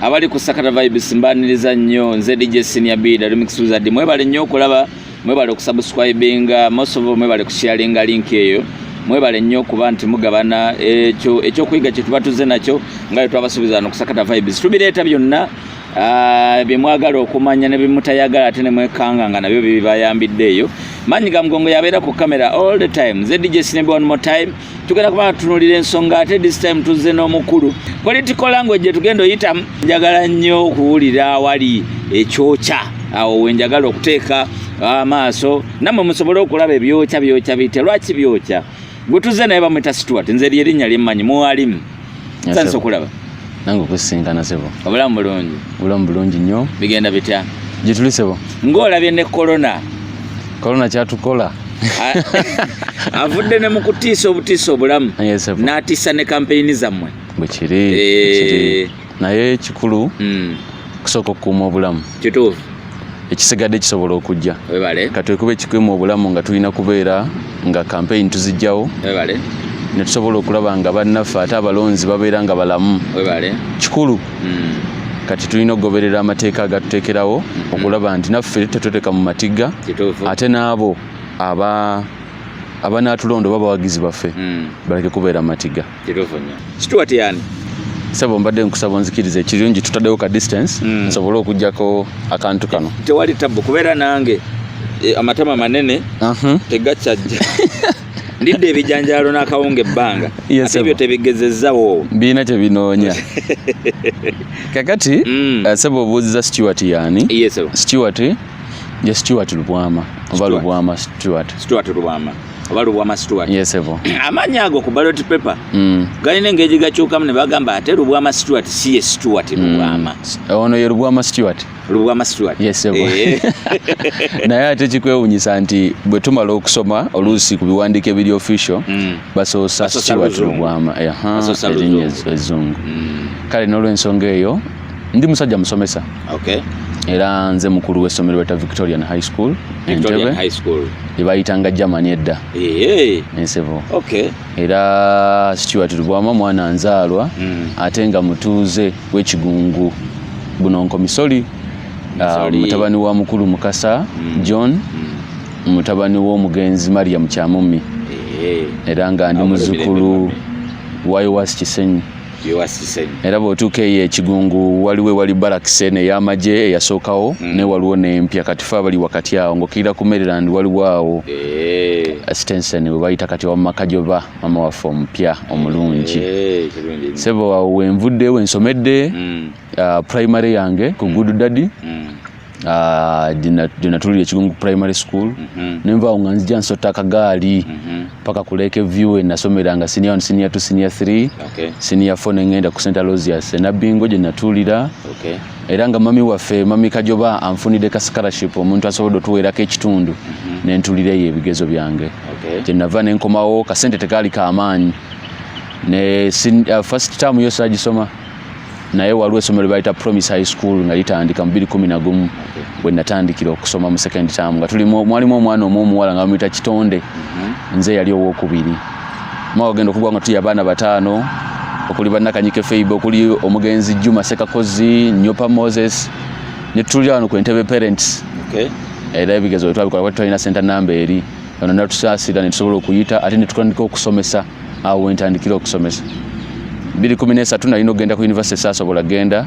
abali ku sakata vibes mbaniriza nnyo nze dj senior bida remix wizard mwebale nnyo okulaba mwebale okusubscribinga most of mwebale kusharinga link eyo mwebale nnyo okuba nti mugabana ekyo ekyokuyiga kyetuba tuze nakyo nga bwe twabasuubiza no kusakata vibes tubireeta byonna ah, bye mwagala okumanya ne bimutayagala ate ne mwekanga nga nabyo bibayambidde eyo maanyi ga mugongo yabeera ku kamera all the time zedj sinebe one more time tugenda kuba tutunulira ensonga ate this time tuzze n'omukulu political language gyetugenda oyitamu njagala nnyo okuwulira awali ekyokya awo wenjagala okuteeka amaaso nammwe musobole okulaba ebyokya byokya bite lwaki byokya gwe tuzze naye bamwita situwati nze lyerinnya lyemmanyi muwalimu nsanyuse okulaba nange okusisinkana sebo obulamu bulungi obulamu bulungi nnyo bigenda bitya gyetuli sebo ng'olabye ne korona korona kyatukola avudde ne mu kutiisa obutiisa obulamu n'atiisa ne kampeyini zammwe bwekiri eh. naye ekikulu hmm. kusooka okukuuma obulamu kituufu ekisigadde kisobola okujja katwekuba ekikwemu obulamu nga tulina kubeera nga kampeyini tuzijjawo netusobola okulaba nga bannaffe ate abalonzi babeera nga balamu kikulu hmm. kati tulina okugoberera amateeka agatuteekerawo hmm. okulaba nti naffe tetweteka mu matigga ate n'abo aba abanatulonda oba bawagizi baffe hmm. baleke kubeera matigga tebevunya situwa teyani sebo mbadde nkusaba onzikiriza ekirungi tutaddewo ka distance mm. nsobole okujjako akantu kano tewali tabbu kubeera nange eh, amatama manene uh -huh. tegakyajja ndidde ebijanjaalo n'akawunga ebbanga ate ebyo tebigezezzawo birina kye binoonya kakati mm. eh, sebo obuuziza stewart yaani stewart ye stewart lubwama oba lubwama stewart stewart lubwama oba lubwama situwat yes, amaanyi ago ku balot paper mm. galina engeri gakyukamu ne bagamba ate lubwama situwat si ye situwat mm. lubwama mm. ono ye lubwama situwat lubwama situwat yes, eh. naye ate kikwewunyisa nti bwe tumala okusoma oluusi ku biwandiiko ebiri official mm. basoosa situwat lubwama erinnya ezzungu mm. kale n'olwensonga eyo Ndi musajja musomesa. Okay. Era nze mukulu w'essomero beta Victorian High School. Victorian High School. Ebayitanga Germany edda. Eee. Ensebo. Okay. Era Stuart Lubwama mwana nzaalwa mm. ate nga mutuuze w'ekigungu buno nkomisoli ah, mutabani wa mukulu Mukasa mm. John mm. mutabani w'omugenzi Mariam Kyamummi. Eee. Era nga ndi muzukulu wa Iwasi Kisenyi. era bw'otuuka eyo ekigungu waliwo ewali barakisi eno ey'amagye eyasookawo mm. naye waliwo n'empya kati fe abali wakati awo ng'okkirira ku maryland waliwo awo eh. stenson we bayita kati wamumaka gyoba mama waffe omupya omulungi eh, sebo awo wenvudde wensomedde mm. ah, primary yange ku good daddy mm. gyenatulira ah, ekigungu primary school mhm. nenvaawo nga nzija nsota akagaali mhm. paka ku lake view enasomera nga senior one senior two senior three senior four nengenda ku center losias enabingo gyenatulira era nga mami waffe mami kajoba anfunidde ka scholarship omuntu asobodde otuweerako ekitundu mhm. nentulira eyo ebigezo byange kyenava nenkomawo kasente tekaali kamaanyi ne uh, first term yo sagisoma naye waliwo essomo lye bayita promise high school nga litandika mu biri kumi na gumu bwe natandikira okusoma mu second term nga tulimu mwalimu omwana omu omuwala nga bamuyita kitonde mhm. nze yali owokubiri mwaka genda okugwa nga tuli abaana bataano okuli bannakanyike feibe okuli omugenzi juma sekakozi nyopa moses netutulira wano ku entebe parents era ebigezo wetwabikola twalina senta namba eri ono natusaasira netusobola okuyita ate netutandika okusomesa awo wentandikira okusomesa biri kumi nesatu nalina okugenda ku univesity saasobola genda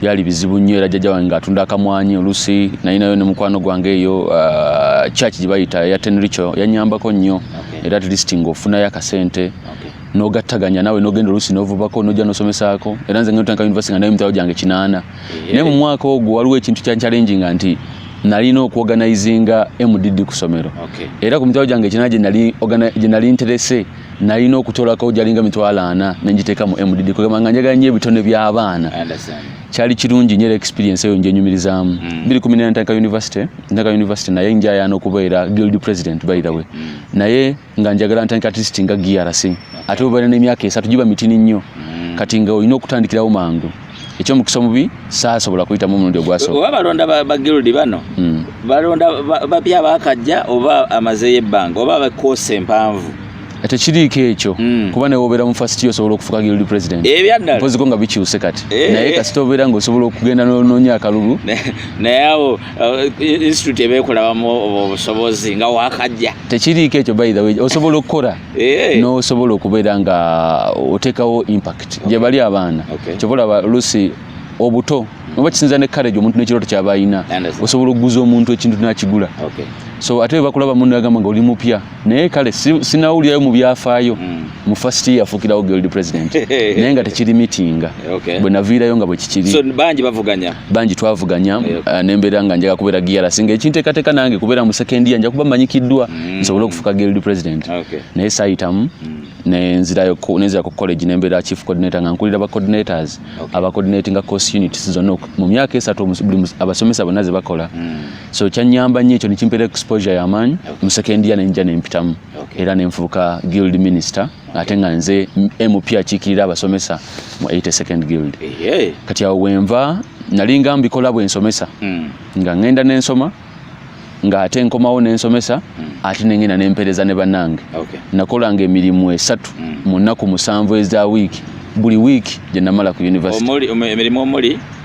byali bizibu nnyo era jjajja wange ngaatunda akamwanyi oluusi nalinayo ne mukwano gwange eyo uh, church gye bayita ya tenricho yanyambako nnyo era at least ngaofunayo akasente nogattaganya nawe nogenda oluusi novubako nojja nosomesaako era nze ngetanka univesity nga naye emitwalo gyange kinaana naye mu mwaka ogwo waliwo ekintu kyanchallenginga nti nalina okuorganizinga mdd ku somero era ku mitwalo gyange ekina gye nali nterese nalina okutolako gyalinga mitwalo ana nengiteeka mu mdd kugamba nga njagala nyo ebitone by'abaana kyali kirungi nyo era experience eyo njenyumirizaamu mm. biri kumi nena ntandika university ntandika university naye njayaana okubeera guild president by the way mm. naye nga njagala ntandika at least nga GRC ate bwe balina emyaka esatu giba mitini nnyo mm. kati nga olina okutandikirawo mangu ekyomukisa omubi saasobola kuyitamu omulundi ogwasooka oba balonda bagirudi bano mm. balonda bapya bakajja oba amazeyo ebbanga oba bakoosa empanvu tekiriiko ekyo mm. kuba nawe obeera mu first year osobola okufuka guild president ebyaddala koziko nga bikyuse kati eh. naye kasita obeera nga osobola okugenda nononya akalulu naye awo uh, institute ebeekulabamu obusobozi nga wakajja tekiriiko ekyo by the way osobola okukora eh. nosobola okubeera nga otekawo impact gyebali abaana kyobalaba lusi obuto oba kisinza ne courage omuntu nekirooto kyaba alina osobola okuguza omuntu ekintu nakigula so ate webakulaba mundu agamba nga oli mupya naye kale sinawulirayo mu byafaayo mm. mu first year afukirawo guild president naye nga tekiri mitinga okay. bwe naviirayo nga bwe kikiri so, bangi bavuganya bangi twavuganya okay. uh, nembeera nga njaga kubeera giara singa ekinteekateeka nange kubeera mu second year nja kuba manyikiddwa mm. nsobole okufuka guild president okay. naye saayitamu mm. nenzira ku college nembeera chief coordinator nga nkulira ba coordinators okay. aba coordinatinga course units zonna mu myaka esatu abasomesa bonna ze bakola mm. so kyanyamba nnyo ekyo nekimpera exposure yamaanyi okay. mu second year nenja nempitamu era nenfuuka guild minister ate nga nze mp akiikirira abasomesa mu 82nd guild kati awo wenva nali nga mbikola bwensomesa hmm. nga ngenda nensoma nga ate nkomawo nensomesa hmm. ate nengenda nempereza ne banange nakolanga emirimu esatu hmm. mu nnaku musanvu eza wiiki buli wiiki gyenamala ku university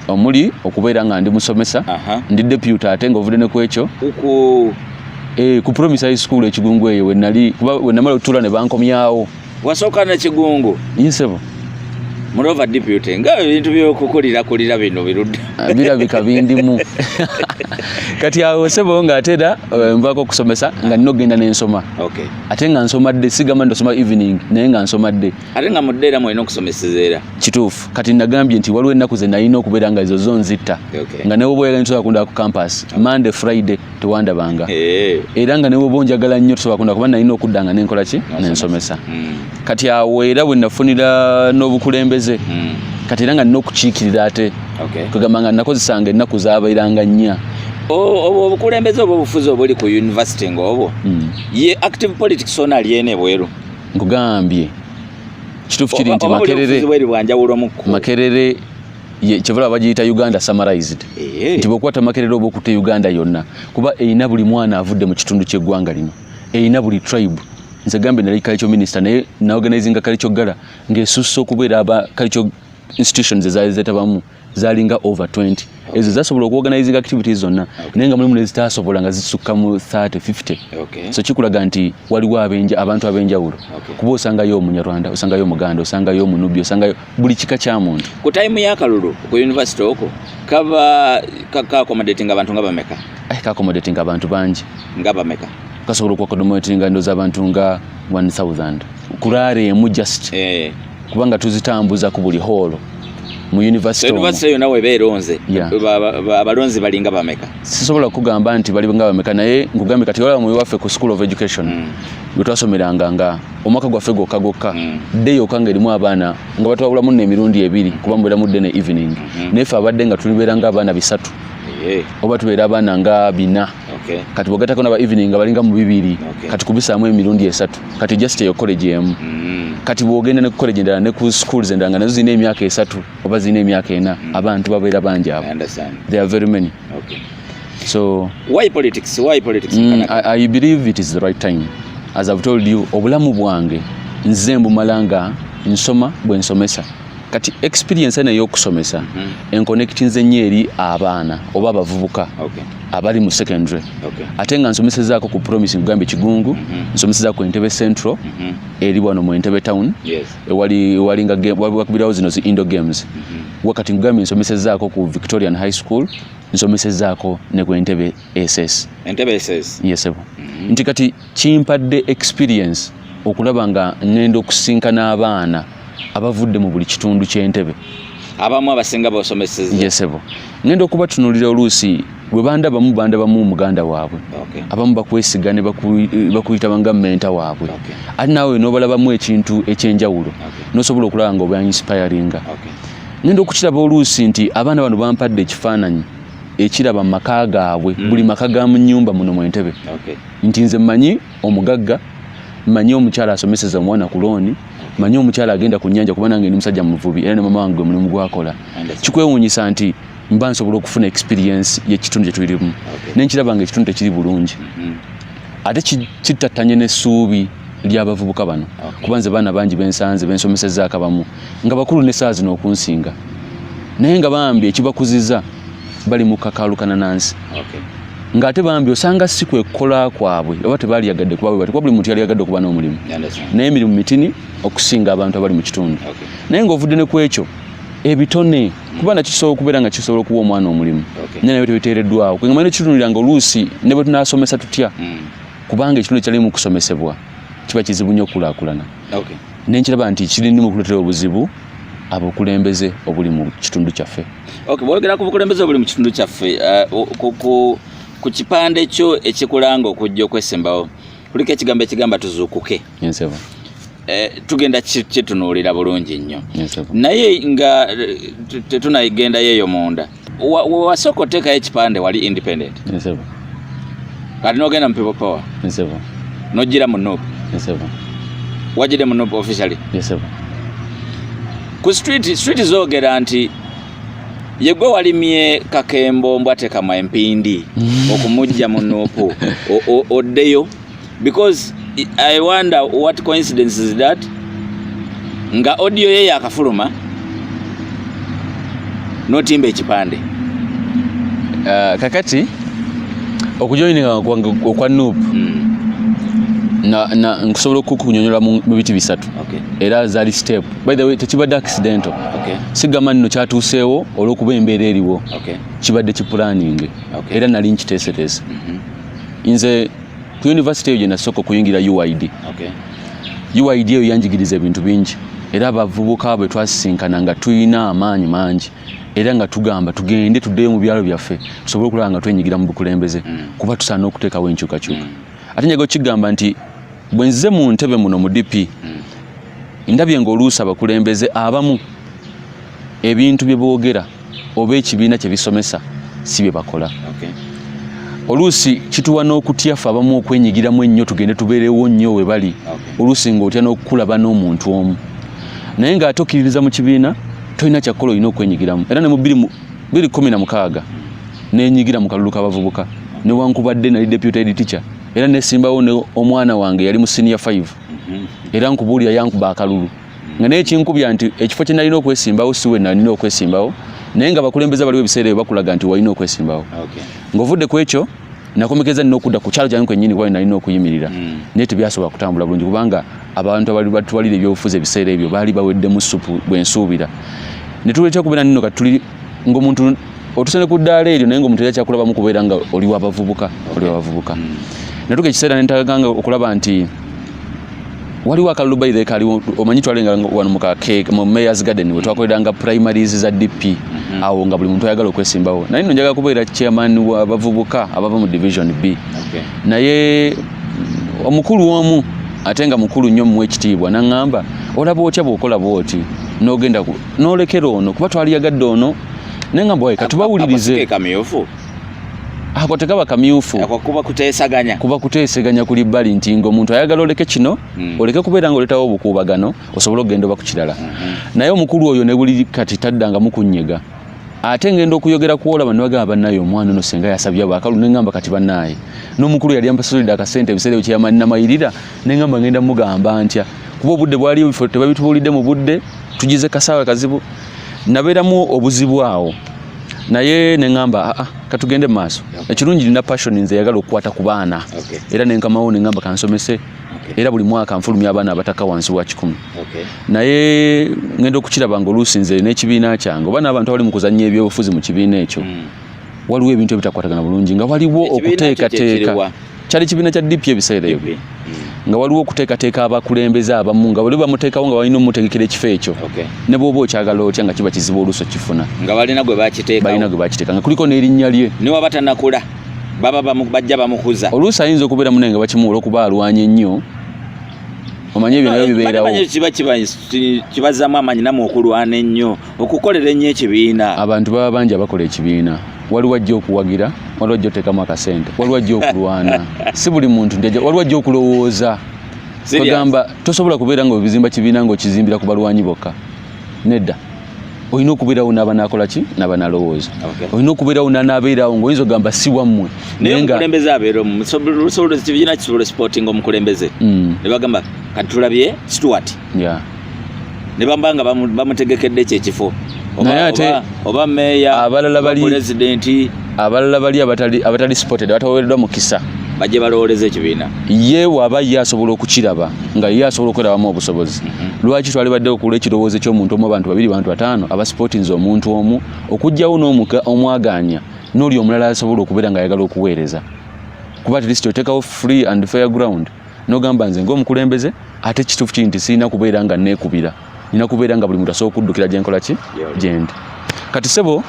omuli okubeera nga ndi musomesa ndi deputy ate nga ovudde ne ku ekyo eh, ku promise high school ekigungu eyo wenali kuba wenamala okutuula ne bankomyawo wasooka na kigungu yinsebo mulova deputy nga ebintu byokukulira kulira bino birudde ah, birabika bindimu kati awo sebo nga ate era eh, nvako okusomesa nga nina okugenda nensoma ate nga nsomadde sigamba ndosoma evening naye nga nsomadde ate nga mudde era mwalina okusomeseza era kituufu kati nagambye nti waliwo ennaku ze nalina okubeera nga ezo zo nzitta nga newoba oyagala nsobola kundaba ku campus monday friday tewandabanga eh. era nga newoba onjagala nnyo tosobola kundaba kuba nalina okudda nga nenkola ki nensomesa hmm. kati awo era bwe nafunira n'obukulembeze hmm. kati era nga nina okukiikirira ate kwegamba nga nakozesanga ennaku zabairanga nnya obukulembeze obwo obufuzi obuli ku university ngaobwo hmm. ye active politics ona alyene bweru nkugambye kituufu kiri nti makerere makerere kyebala bagiyita uganda summarized eh. nti bwokuba tamakerera oba okutta uganda yonna kuba erina buli mwana avudde mu kitundu ky'eggwanga lino erina buli tribe nze gambe nali culture minister naye naorganizinga culture gala ng'esusse okubeera aba culture institutions ezaali zetabamu zalinga over 20 ezo zasobola okuorganizinga activities zonna naye nga mulimu nezitasobola nga zisukka mu 30 50 so kikulaga nti waliwo abenja abantu abenjawulo kuba osangayo omunyarwanda osangayo omuganda osangayo omunubi osangayo buli kika kya muntu ku time yakalulu ku university oko kaba kakomodatinga abantu nga bameka eh, kakomodatinga abantu bangi nga bameka kasobola okuakodomotinga ndoza abantu nga 1000 kurara emu just eh. kubanga tuzitambuza ku buli hall mu university omu. University yona webeera onze. Yeah. Abalonzi bali nga bameka. Sisobola kugamba nti bali nga bameka naye ngugambe kati wala mu wafe ku school of education. Mm. Gutwasomeranga nga omwaka gwaffe gwokka gwokka mm. day yokka nga erimu abaana nga batwabulamu nno emirundi ebiri kuba mubeera mudde ne evening. Mm -hmm. Naye ffe abadde nga tulibeera nga abaana bisatu. Yeah. Oba tubeera abaana nga bina. okay. kati bogatako naba evening nga balinga mu bibiri okay. kati kubisaamu emirundi esatu kati just eyo college emu mm. kati bwogenda ne college endala ne ku schools endala nga nazo zirina emyaka esatu oba zirina emyaka ena mm. abantu babeera bangi abo there are very many okay. so why politics why politics mm, I, I believe it is the right time as I've told you obulamu bwange nze mbumala nga nsoma bwe nsomesa kati experience eno eyokusomesa mm. enkonectinze nnyo eri abaana oba abavubuka okay. abali mu secondary okay. ate nga nsomesezaako ku promise nkugambye kigungu mm -hmm. nsomesezaako ku entebe central mm -hmm. eri wano mu entebe town yes. ewali walingaakubirawo zino zi indo games mm -hmm. wakati nkugambye nsomesezaako ku victorian high school nsomesezaako ne ku entebe ss entebe ss yes, mm -hmm. nti kati Kimpadde experience okulaba nga ngenda okusinkana abaana abavudde mu buli kitundu ky'entebe abamu abasinga bosomeseza yesebo ngenda okubatunulira oluusi bwe bandabamu bandabamu muganda waabwe okay. abamu bakwesiga ne bakuyita banga menta waabwe okay. ate naawe nobalabamu ekintu ekyenjawulo okay. nosobola okulaba nga oba inspiringa okay. ngenda okukiraba oluusi nti abaana bano bampadde ekifaananyi ekiraba mu maka gaabwe mm. buli maka ga mu nyumba muno mu entebe okay. nti nze mmanyi omugagga mmanyi omukyala asomeseza omwana ku looni mmanyi omukyala agenda ku nnyanja kuba nange ndi musajja muvubi era ne mama wange gwe mulimu gwakola kikwewuunyisa nti mba nsobola okufuna experience y'ekitundu kye tulimu ne nkiraba nga ekitundu tekiri bulungi mm-hmm. ate kittattanye n'essuubi ly'abavubuka bano kuba nze baana bangi bensanze bensomesezzaako abamu nga bakulu ne saa zino okunsinga naye nga bambi ekibakuziza bali mu kakaalukana na nsi okay. ng'ate bambi osanga si kwe kukola kwabwe oba tebaaliyagadde kuba bwe bati kuba buli muntu yali yagadde okuba n'omulimu naye emirimu mitini okusinga abantu abali mu kitundu naye ng'ovudde ne ku ekyo ebitone kuba nakyo kisobola okubeera nga kisobola okuwa omwana omulimu naye nabyo tebiteereddwawo kwegamba nekitunulira nga oluusi ne bwe tunaasomesa tutya hmm. kubanga ekitundu kyali mu kusomesebwa kiba kizibu nnyo okukulakulana nenkiraba nti kirindimu okuleetera obuzibu abukulembeze obuli mu kitundu kyaffe okay, bwogera ku bukulembeze obuli mu kitundu kyaffe uh, ku, ku, ku kipande kyo ekikulanga okujja okwesembawo kuliko ekigambo ekigamba tuzuukuke yes, eh, tugenda kitunuulira bulungi nnyo yes, naye nga eh, tetunagendayo eyo munda wasooka oteekayo ekipande wali independent kati nogenda mu people power nojjira mu nup wajjidde mu nup officially ku street street zoogera nti yegwe walimye kakembo mbwatekama empindi okumujja mu nupu oddeyo because i wonder what coincidence is that nga audio ye yakafuluma notimba ekipande uh, kakati okujoininga okwa nup mm. nkusobola okukunyonyola mu biti bisatu era zali step by the way tekibadde accidental sigamba nino kyatuuseewo olwokuba embeera eriwo kibadde kipulaninge era nali nkiteeseteese mhm. nze ku yunivasite eyo gyenasooka okuyingira uid okay. uid eyo yanjigiriza ebintu bingi era abavubuka bwe twasisinkana nga tulina amaanyi mangi era nga tugamba tugende tuddeyo mu byalo byaffe tusobole okulaba nga twenyigira mu bukulembeze mm. kuba tusaana okuteekawo enkyukakyuka mm. ate njaga okigamba nti bwe nzize mu ntebe muno mu dp mm. ndabye ngaoluusi abakulembeze abamu ebintu bye boogera oba ekibiina kye bisomesa si bye bakola oluusi kituwa n'okutya fe abamu okwenyigiramu ennyo tugende tubeerewo nnyo we bali oluusi ng'otya n'okukulaba n'omuntu omu naye ng'ate okkiririza mu kibiina tolina kyakukola olina okwenyigiramu era ne mu biri kumi na mukaaga nenyigira mu kalulu k'abavubuka newankubadde nali deputy head teacher era nesimbawo ne omwana wange yali mu senior 5 mhm. era nkubuulira yankuba akalulu nga naye kinkubya nti ekifo kye nalina okwesimbawo si we nalina okwesimbawo naye nga bakulembeza baliwo ebiseera ebyo bakulaga nti walina okwesimbawo ng'ovudde ku ekyo nakomekeza nina okudda ku kyalo kyange kwennyini kuba nalina okuyimirira hmm. naye tebyasobola kutambula bulungi kubanga abantu abali batwalira ebyobufuzi ebiseera ebyo baali baweddemu supu bwensuubira ne tuletera okubeera nino kati tuli ng'omuntu otuse ne ku ddaala eryo naye ng'omuntu era kyakulabamu kubeera nga oli wabavubuka oli wabavubuka hmm. natuka ekiseera nentaganga okulaba nti waliwo akalulu by the kali omanyi twalenga wano mu kake mu mayor's garden we twakoleranga primaries za DP mm -hmm. awo nga buli muntu ayagala okwesimbawo naye no njaga kubeera chairman wa bavubuka abava mu division B okay. naye omukulu omu atenga mukulu nnyo mu ekitiibwa nangamba olaba otya bwokola bwoti nogenda nolekera ono kuba twaliyagadde ono naye nga mbwaye katubawulirize kamyufu ako tekaba kamyufu kuba kutesaganya kuba kuteseganya kuli bali nti ngo omuntu ayagala oleke kino mm. oleke kubeera nga oletawo obukuubagano osobola okugenda oba ku kirala mm -hmm. naye omukulu oyo ne buli kati taddanga mukunyega ate ngenda okuyogera kwolaba newagamba banaye omwana ono senga yasabye bwakalu nengamba kati banaye nomukulu yali ampasulidde akasente ebiseera ebyo kyeyamanina mayirira nengamba ngenda mugamba ntya kuba obudde bwaliyo bifo tebabitubulidde mu budde tugize kasaawa kazibu nabeeramu obuzibu awo naye nengamba aa ah, ah, katugende mu maaso ekirungi nina passion nze eyagala okukwata ku baana era nenkamawo nengamba kansomese era buli mwaka nfulumya abaana abataka wansi wa kikumi naye ngenda okukiraba nga oluusi nze n'ekibiina kyange oba n'abantu abali mu kuzannya ebyobufuzi mu kibiina ekyo hmm. waliwo ebintu ebitakwatagana bulungi nga waliwo okuteekateeka kyali kibiina kya DP ebiseera ebyo nga waliwo okuteekateeka abakulembeze abamu nga bali bamuteekawo nga balina omutegekera ekifo ekyo ne bwoba okyagala otya nga kiba kizibu oluusi okifuna nga balina gwe bakiteeka balina gwe bakiteeka nga kuliko n'erinnya lye ne waba tanakula baba bajja bamukuza oluusi ayinza okubeera munaye nga bakimuwola okuba alwanye nnyo omanye ebyo nabyo bibeerawo kiba kibazamu amanyi namwe okulwana ennyo okukolera ennyo ekibiina abantu baba bangi abakola ekibiina waliwo ajja okuwagira waliwo ajja otekamu akasente waliwo ajja okulwana si buli muntu nti waliwo ajja okulowooza ogamba tosobola kubeera nga obizimba kibiina nga okizimbira ku balwanyi bokka nedda olina okubeerawo naaba nakola ki naaba nalowooza olina okubeerawo nanaabeerawo nga oyinza ogamba si wammwe nayeomukulembeze abeeromusobola ekibiina kisobola sporting omukulembeze mm. ne bagamba kati tulabye situwati ne bamba nga bamutegekedde kyekifo oba meeya abalala bali pulezidenti abalala bali abatali abatali supported abataweereddwa mukisa bajje balowooleza ekibiina ye waba ye asobola okukiraba nga ye asobola okwerabamu obusobozi mhm. lwaki twali badde okula ekirowoozo ky'omuntu omu abantu babiri bantu bataano abasipotinze omuntu omu okugyawo n'omwagaanya n'oli omulala asobola okubeera nga ayagala okuweereza kuba at least otekawo free and fair ground nogamba nze ngaomukulembeze ate kituufu kiri nti sirina kubeera nga neekubira nina kubeera nga buli muntu asobola okuddukira gyenkola ki gyendi kati sebo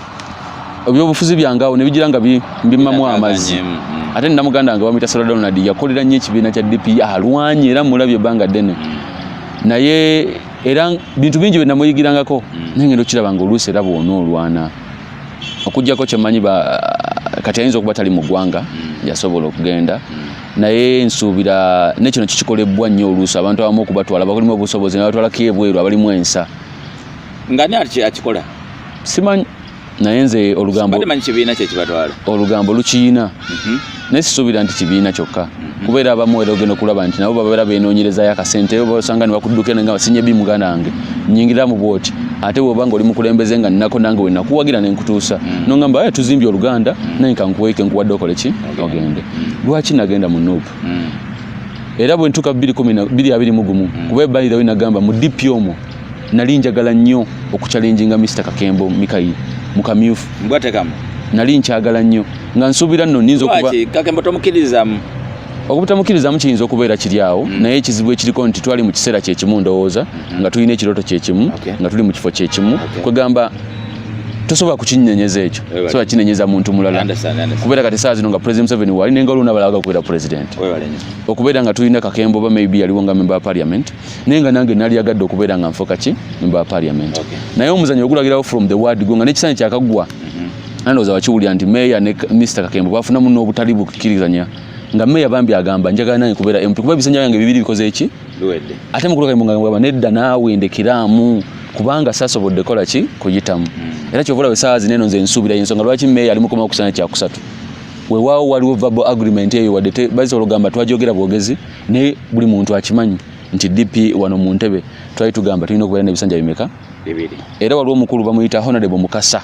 ebyobufuzi byange awo nebigira nga mbimamu amazzi mm, mm. ate nina muganda wange bamuyita sara donald yakolera nnyo ekibiina kya dp alwanye era mulabye ebbanga ddene mm. naye era bintu bingi byenamuyigirangako naye ngenda okiraba nga oluusi era bwona olwana okujjako kyemanyi kati ayinza okuba tali mu ggwanga yasobola okugenda naye nsuubira ne kino kikikolebbwa nnyo oluusi abantu abamu okubatwala bakolimu obusobozi nabatwala ko ebweru abalimu ensa nga ni akikola simanyi naye nze olugambo olugambo lukiyina mhm. naye sisuubira nti kibiina kyokka mhm. kubeera abamu era ogenda okulaba nti nabo babeera benoonyerezayo akasente osanga ne bakudduka eno nga basinye bi muganda wange nyingiramu bwoti ate woba nga oli mukulembeze nga nnako nange wenakuwagira ne nkutuusa mhm. nongamba aye tuzimbye oluganda naye kankuweeke nkuwadde okole ki ogende lwaki nagenda mu nup mm. era bwe ntuuka bibiri kumi na biri abiri mu gumu mm. kuba ebbali dawe nagamba mu dp omwo nali njagala nnyo okucalenjinga mr kakembo mikayi mu kamyufu mbwatekamu nali nkyagala nnyo nga nsuubira nno ninza okuba kakembo tomukirizamu obutamukirizamu kiyinza okubeera kiri awo mm. naye ekizibu ekiriko nti twali mu kiseera kyekimu ndowooza mm-hmm. nga tulina ekirooto kyekimu nga tuli mu kifo kyekimu kwegamba tosobola kukinyenyeza ekyo sobola kinenyeza muntu mulala kubeera kati saa zino nga president museveni wali naye nga olwo nabalaga okubeera president okubeera nga tulina kakembo oba maybe yaliwo nga member wa parliament naye nga nange nali yagadde okubeera nga nfuka ki member wa parliament naye omuzanyo ogulagirawo from the word go nga nekisanyi kyakagwa mm-hmm. nandowoza wakiwulira nti meya ne mr kakembo bafunamu n'obutali bukkirizanya nga meya bambi agamba njagala nange kubeera mp kuba ebisanja byange bibiri bikoze eki luwedde ate mukulu kayimbo ngamba nedda naawe ndekiraamu kubanga sasobodde kola ki kuyitamu hmm. era kyovula wesaawa zineno nze nsuubira yensonga lwaki meeya ali mukomawo kusana kyakusatu wewaawo waliwo verbal agreement eyo wadde basobola ogamba twajogera bwogezi naye buli muntu akimanyi nti dp wano mu ntebe twali tugamba tulina okubeera nebisanja bimeka era waliwo omukulu bamuyita honorable mukasa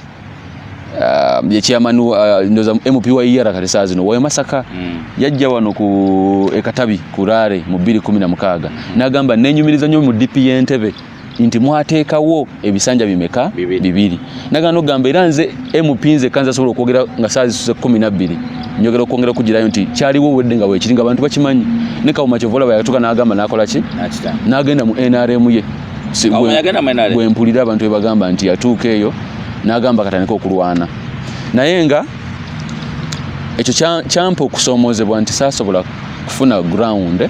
um, ye chairman uh, ndoza MPYR e kati saa zino wayo masaka mm. yajja wano ku ekatabi kurare mu 2016 mm. nagamba nenyumiriza nyo mu DP yentebe nti mwateekawo ebisanja bimeka bibiri nagano gamba era nze MP nze kanza sobola okwogera nga saa zisuse 12 njogera okwongera okugirayo nti kyaliwo wedde nga wekiri nga abantu bakimanyi ne kawuma kyovola bayatuka nagamba nakola ki nagenda mu NRM ye bwempulira abantu bebagamba nti yatuuka eyo nagamba katandika okulwana naye nga ekyo kyampa okusoomozebwa nti saasobola kufuna ground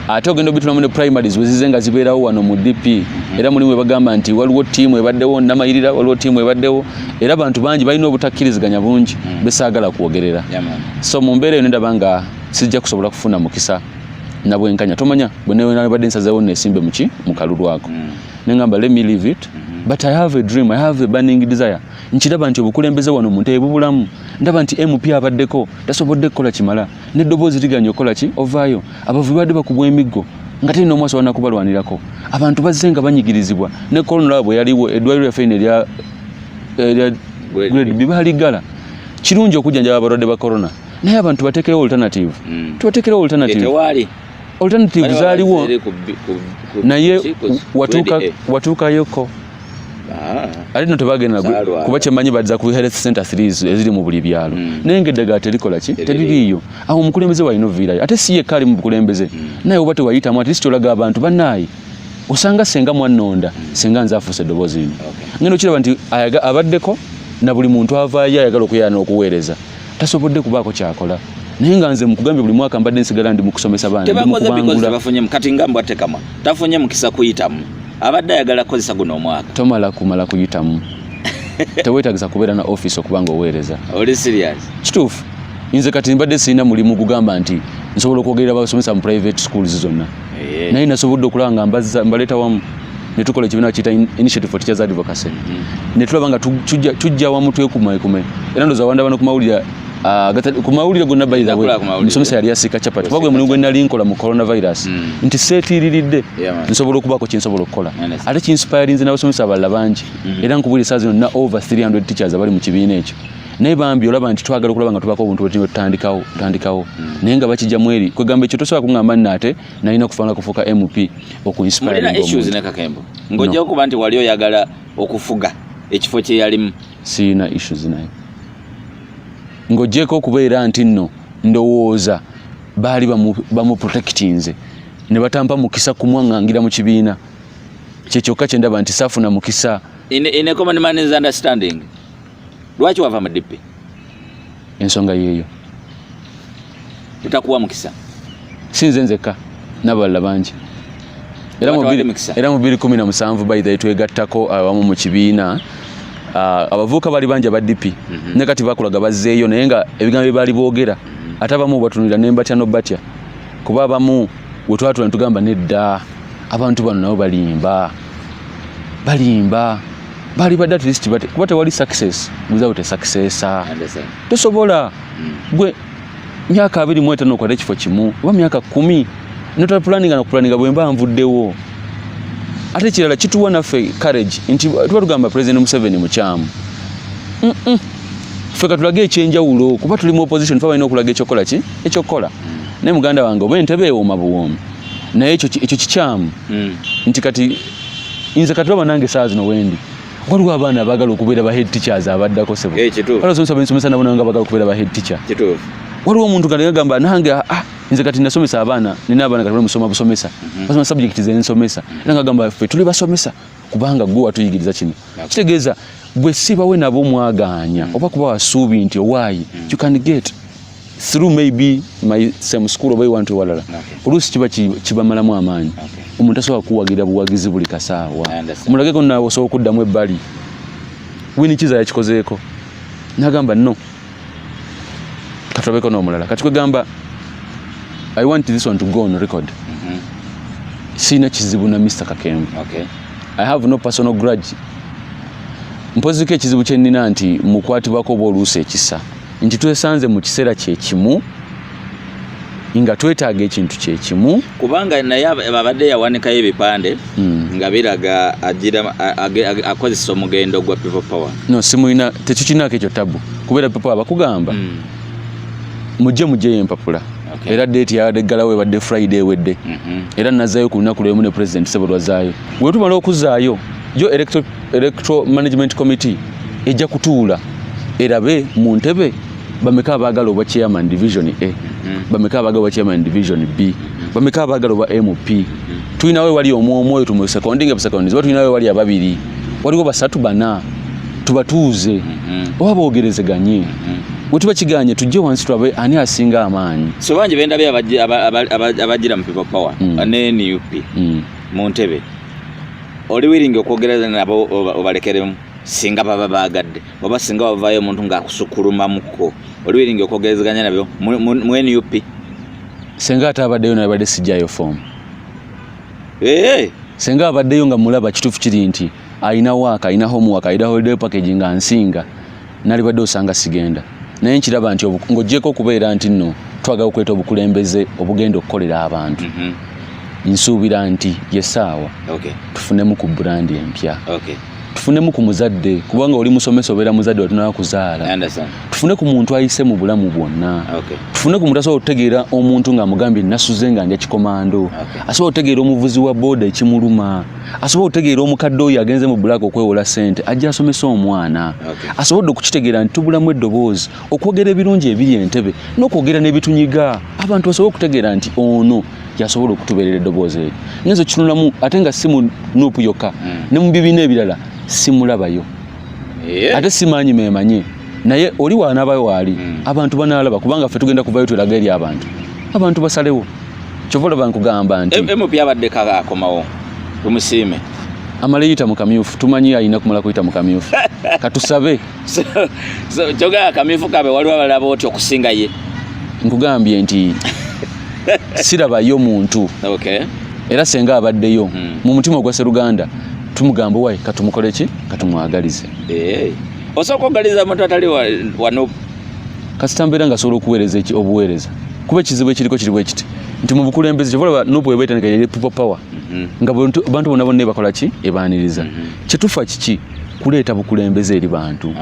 ate ogenda obitulamu ne primaries wezize nga zibeerawo wano mu dp era mulimu ebagamba nti waliwo tiimu ebaddewo namayirira waliwo tiimu ebaddewo era bantu bangi balina obutakkiriziganya bungi mm. besaagala kwogerera so mu mbeera eyo nendaba nga sijja kusobola kufuna mukisa na bwenkanya tomanya bwenabadde nsazewo nesimbe muki mukalulu ako mm. nengamba let me leave it mm-hmm. but i have a dream i have a burning desire nkiraba nti obukulembeze wano muntu ebubulamu ndaba nti mp abaddeko tasobodde kukola kimala neddoboozi liganya okukola ki ovaayo abavubi badde bakubwa emiggo nga teri nomu asobola nakubalwanirako abantu bazze nga banyigirizibwa ne kolonolaba bwe yaliwo eddwaliro lyaffe ino erya grade bibaliggala kirungi okujjanjaba abalwadde ba corona naye abantu batekerewo alternative mm. tubatekerewo alternative eh, alternative zaliwo naye watuukayoko ah. ate no tebagenda kuba kyemanyi badza ku health center series eziri mu buli byalo mm. naye nga eddagala terikola ki teririiyo awo omukulembeze walina oviirayo ate si yekka ali mu bukulembeze mm. naye oba tewayitamu at least olaga abantu banaayi osanga senga mwannonda mm. senga nze afuusa eddoboozi lino ngenda okiraba nti abaddeko na buli muntu avaayo ayagala okuyana okuweereza tasobodde kubaako kyakola naye nga nze mukugambye buli mwaka mbadde nsigala ndi mukusomesa baana tebakoze bikozi tebafunyemu kati nga mbwa tekama tafunye mukisa kuyitamu abadde ayagala kukozesa guno omwaka tomala kumala kuyitamu tewetagisa kubeera na office okuba nga oweereza oli serious kituufu nze kati mbadde sirina mulimu gugamba nti nsobola okwogerera basomesa mu private schools zonna eh. naye nasobodde okulaba nga mbazza mbaleeta wamu ne tukola ekibiina kiyita initiative for teachers advocacy mm. ne tulaba nga tujja wamu twekumaekume era ndoza wanda bano ku mawulire ah, ku mawulire gonna by the way musomesa yali yasiika chapati kuba gwe mulimu gwe nali nkola mu coronavirus mm. nti seetiiriridde nsobola okubaako kye nsobola okukola ate kinsipayarinze n'abasomesa abalala bangi mm. era nkubulira saa zino na over 300 teachers abali mu kibiina ekyo naye bambi olaba nti twagala okulaba nga tubako obuntu bwetunywe tutandikawo tutandikawo hmm. naye nga bakijja mweri kwegamba ekyo tosobola kungamba nno ate nalina okufanga kufuuka mp okuinspirnakakembo ngaojja okuba nti wali oyagala okufuga ekifo kyeyalimu siyina issues naye ngaojjeeko okubeera nti nno ndowooza baali bamuprotectinze ne batampa mukisa kumwaŋŋangira mu kibiina kyekyokka kyendaba nti saafuna mukisa in, in a common man's understanding lwaki wava mu dipi ensonga yeeyo etakuwa mukisa sinze nzekka nabalala bangi era mu 2017 baidha twegattako abamu mu kibiina ah, abavuuka bali bangi aba dipi mhm. ne kati bakulaga bazzeeyo naye nga ebigambo bye baali boogera mhm. ate abamu batunulira ne mbatya nobatya kuba abamu we twatula ne tugamba nedda abantu bano nabo balimba balimba bali badde at least bate kuba tewali success without a successor tosobola mm. gwe myaka abiri mu etaano okwata ekifo kimu oba myaka kumi notala pulaninga na kupulaninga bwe mba nvuddewo ate kirala kituwa naffe courage nti tuba tugamba president museveni mukyamu ffe katulage ekyenjawulo kuba tuli mu opposition fe balina okulaga ekyokukola ki ekyokukola naye muganda wange oba entebe ewooma buwoomi naye ekyo kikyamu mm. nti kati nze kati oba nange saa zino wendi waliwo abaana abagala okubeera ba head teachers abaddako sebo eh, nsomesa bensomesa nabo nanga bagala okubeera ba head teacher waliwo omuntu kati agamba nange ah, ah, nze kati nasomesa abaana nina abaana kati musoma busomesa mhm. basoma subject ze nsomesa era ngagamba ffe tuli basomesa kubanga gwe watuyigiriza kino kitegeeza gwe sibawe nabo mwagaanya mhm. oba kuba wasuubi nti owaayi mhm. you can get through maybe my same school oba ewantu ewalala oluusi kiba kibamalamu amaanyi omuntu asobola kuwagira buwagizi buli kasaawa mulageko naawe osobola okuddamu ebbali wini kiza yakikozeeko nagamba no katulabeko n'omulala kati kwegamba i want this one to go on record mm-hmm. siina kizibu na mr kakembe i have no personal grudge mpoziko ekizibu kyenina nti mukwatibwako oba oluusi ekisa nti twesanze mu kiseera kye kimu nga twetaaga ekintu kye kimu kubanga naye abadde yawanikayo ebipande hmm. nga biraga agira akozesa omugendo gwa people power no simulina tekikinako ekyo tabu kubeera people power bakugamba hmm. mujje mujjeyo empapula okay. era date ya degala we badde friday wedde mm -hmm. era nazayo ku lunaku lwemu ne president sebo lwazayo wetumala okuzayo yo electoral Electoral Management Committee ejja kutuula erabe mu ntebe bameka abaagala obwa chairman division A mm-hmm. bameka abaagala obwa chairman division B mm-hmm. bameka abaagala obwa MP mm-hmm. tulinawo ewali omu omu oyo tumusekondinga ebusekondinga oba tulinawo ewali ababiri waliwo basatu bana tubatuuze oba boogerezeganye bwe tuba kiganye tujje wansi tulabe ani asinga amaanyi so bangi bendabye abagira mu people power mm. ne nup mm. mu ntebe oli wiringi okwogerera nabo obalekeremu singa baba bagadde oba singa wavayo omuntu ngaakusukulumamuko oli wiringi okwogerezeganya nabyo mu nup singa ate abaddeyo nabadde sijayo fomu ee singa abaddeyo nga mulaba kituufu kiri nti alina waaka alina homework alina holiday package nga nsinga nalibadde osanga sigenda naye nkiraba nti ng'ogyeko okubeera nti nno twagala okuleeta obukulembeze obugenda okukolera abantu mhm. nsuubira nti yesaawa tufunemu ku burandi empya tufunemu ku muzadde kubanga oli musomesa obeera muzadde watunaa kuzaala tufune ku muntu ayise mu bulamu bwonna tufune ku muntu asobola okutegeera omuntu ng'amugambye nasuze nga ndya kikomando asobola okutegeera omuvuzi wa booda ekimuluma asobole okutegeera omukadde oyo agenze mu bulaga okwewola sente ajja asomesa omwana okay. asobodde okukitegeera nti tubulamu eddoboozi okwogera ebirungi ebiri entebe n'okwogera n'ebitunyiga abantu basobole okutegeera nti ono yasobola okutubeerera eddoboozi eryo nyenza okitunulamu ate nga si mu nuupu yokka mm. ne mu bibiina ebirala simulabayo eh? ate simanyi memanyi naye oli wanabayo waali hmm. abantu banalaba kubanga ffe tugenda kuvayo tweraga eri abantu abantu basalewo kyova olaba nkugamba nti mp abadde kaakomawo tumusiime amala eyita mu kamyufu tumanyi alina kumala kuyita mu kamyufu katusabe kyogaa kamyufu kabe waliwo abalaba oti okusinga ye nkugambye nti sirabayo muntu okay. era senga abaddeyo hmm. mu mutima ogwa seruganda tumugamba wayi katumukole ki katumwagalize eh, osooka okugaliza omuntu atali wanup kasita mbeera nga asobola okuweereza eki obuweereza kuba ekizibu ekiriko kiri bwekiti nti mu bukulembeze kyoba olaba nup eba etandika yali people power mhm. nga bantu bona bonna ebakola ki ebaaniriza mhm. kyetufa kiki kuleeta bukulembeze eri bantu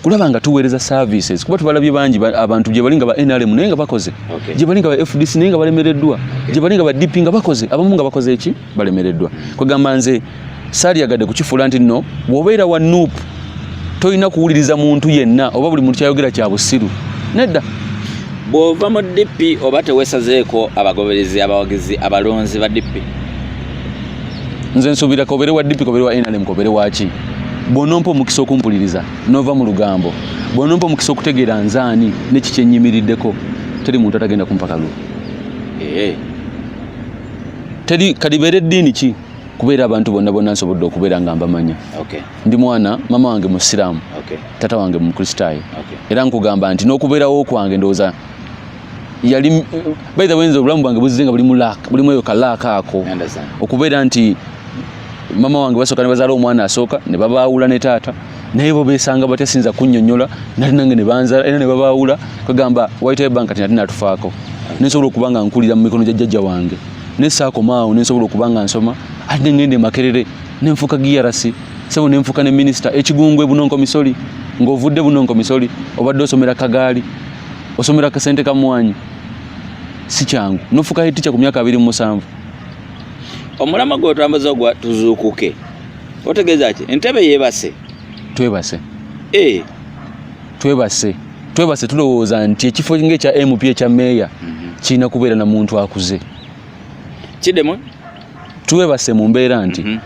kulaba nga tuweereza services kuba tubalabye bangi abantu gye bali nga ba NRM naye nga bakoze okay. gye bali nga ba FDC naye nga balemereddwa okay. gye bali nga ba DP nga bakoze abamu nga bakoze eki balemereddwa kwegamba nze saaliyagadde kukifuula nti nno wobeera wa nup tolina kuwuliriza muntu yenna oba buli muntu kyayogera kya busiru nedda bw'ova mu DP oba teweesazeeko abagoberezi abawagizi abalonzi ba DP nze nsubira kobere wa DP kobere wa NRM kobere wa ki bwonompa omukisa okumpuliriza nova mu lugambo bwonompa omukisa okutegeera nzaani neki kyenyimiriddeko teri muntu atagenda kumpa kalulu ee eh. teri kalibeera eddiini ki kubeera abantu bonna bonna nsobodde okubeera nga mbamanya okay. ndi mwana mama wange musiraamu okay. tata wange mukristaayo okay. era nkugamba nti n'okubeerawo kwange ndowooza yali eh, by the way nze obulamu bwange buzze nga buli mu laaka buli mweyo ka laaka ako okubeera nti mama wange basooka ne bazaala omwana asooka ne babaawula ne taata naye bo beesanga batya sinza kunnyonnyola nali nange ne banzala era ne babaawula kagamba white bank kati nati natufaako nensobola okuba nga nkulira mu mikono gya jjajja wange ne saakomaawo nensobola okuba nga nsoma ate nengenda emakerere nenfuuka giyarasi sebo nenfuuka ne minisita ekigungwe bunonko misoli ng'ovudde bunonko misoli obadde osomera kagaali osomera kasente kamwanyi si kyangu nofuka hiticha ku myaka abiri mu musanvu omulama gwe otambuza gwa tuzuukuke otegeeza ki entebe yebase twebase e. twebase twebase tulowooza nti ekifo nga ekya mp ekya meeya mhm. kirina kubeera na muntu akuze kidemu twebase mu mbeera nti mm -hmm.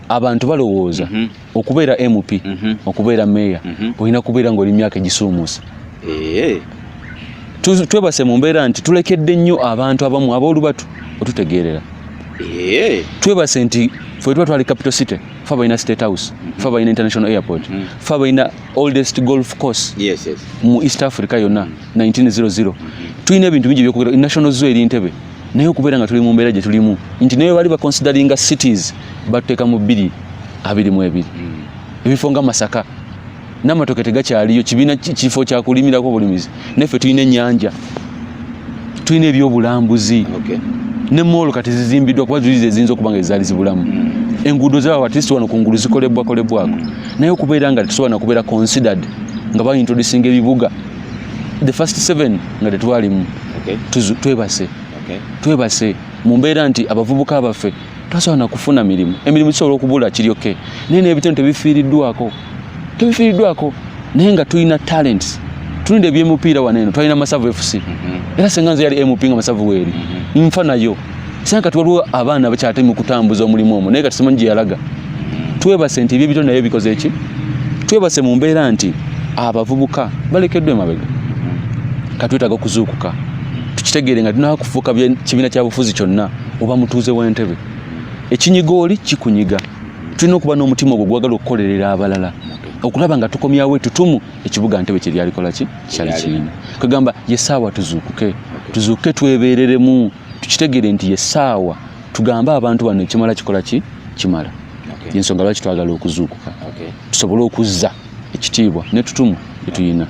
abantu balowooza mm -hmm. okubeera mp mm -hmm. okubeera meeya mm -hmm. olina kubeera ngaoli myaka egisuumuusa eh. twebase mu mbeera nti tulekedde nnyo abantu abamu aboolubatu otutegeerera eh. twebase nti fe tuba twali capital city fe balina state house mm -hmm. fe balina international airport mm -hmm. fe balina oldest golf course yes, yes. mu east africa yonna mm -hmm. 1900 tulina ebintu bingi byokugera national zoo eri ntebe naye okubeera nga tuli mu mbeera gye tulimu nti naye bali baconsideringa cities batuteeka mu bbiri abiri mu ebiri hmm. ebifo nga masaka n'amatoke tegakyaliyo kibiina kifo kyakulimirako obulimizi naffe tulina ennyanja tulina ebyobulambuzi ne moolo kati zizimbiddwa kuba zuli zeziyinza okuba nga ezaali zibulamu hmm. enguudo zaawo atist wano ku ngulu zikolebwakolebwako hmm. naye okubeera nga tetusobola nakubeera considered nga bayintroducinga ebibuga the first seven nga tetwalimu okay. twebase okay. twebase mu mbeera nti abavubuka baffe tasobola na kufuna mirimu emirimu kisobola okubula kiryoke naye n'ebitone tebifiiriddwako tebifiiriddwako naye nga tulina talents tulina ebyemupiira wano eno twalina masavu fc mhm. era senga nze yali mp nga masavu weeri mhm. nfa nayo sanga kati waliwo abaana abakyate mu kutambuza omulimu omu naye kati simanyi gye yalaga twebase nti ebyebito naye bikoze ki twebase mu mbeera nti abavubuka balekeddwa emabega katwetaaga okuzuukuka tukitegeere nga tulina kufuuka kibiina kyabufuzi kyonna oba mutuuze w'entebe ekinyiga oli kikunyiga tulina okuba n'omutima ogwo gwagala okukolerera abalala okulaba nga tukomyawo etutumu ekibuga ntebe kye lyalikola ki kyali kirina kwegamba ye saawa tuzuukuke tuzuukuke twebeereremu tukitegere nti ye saawa tugambe abantu bano ekimala kikola ki kimala yensonga lwaki twagala okuzuukuka tusobole okuzza ekitiibwa netutumu etuyina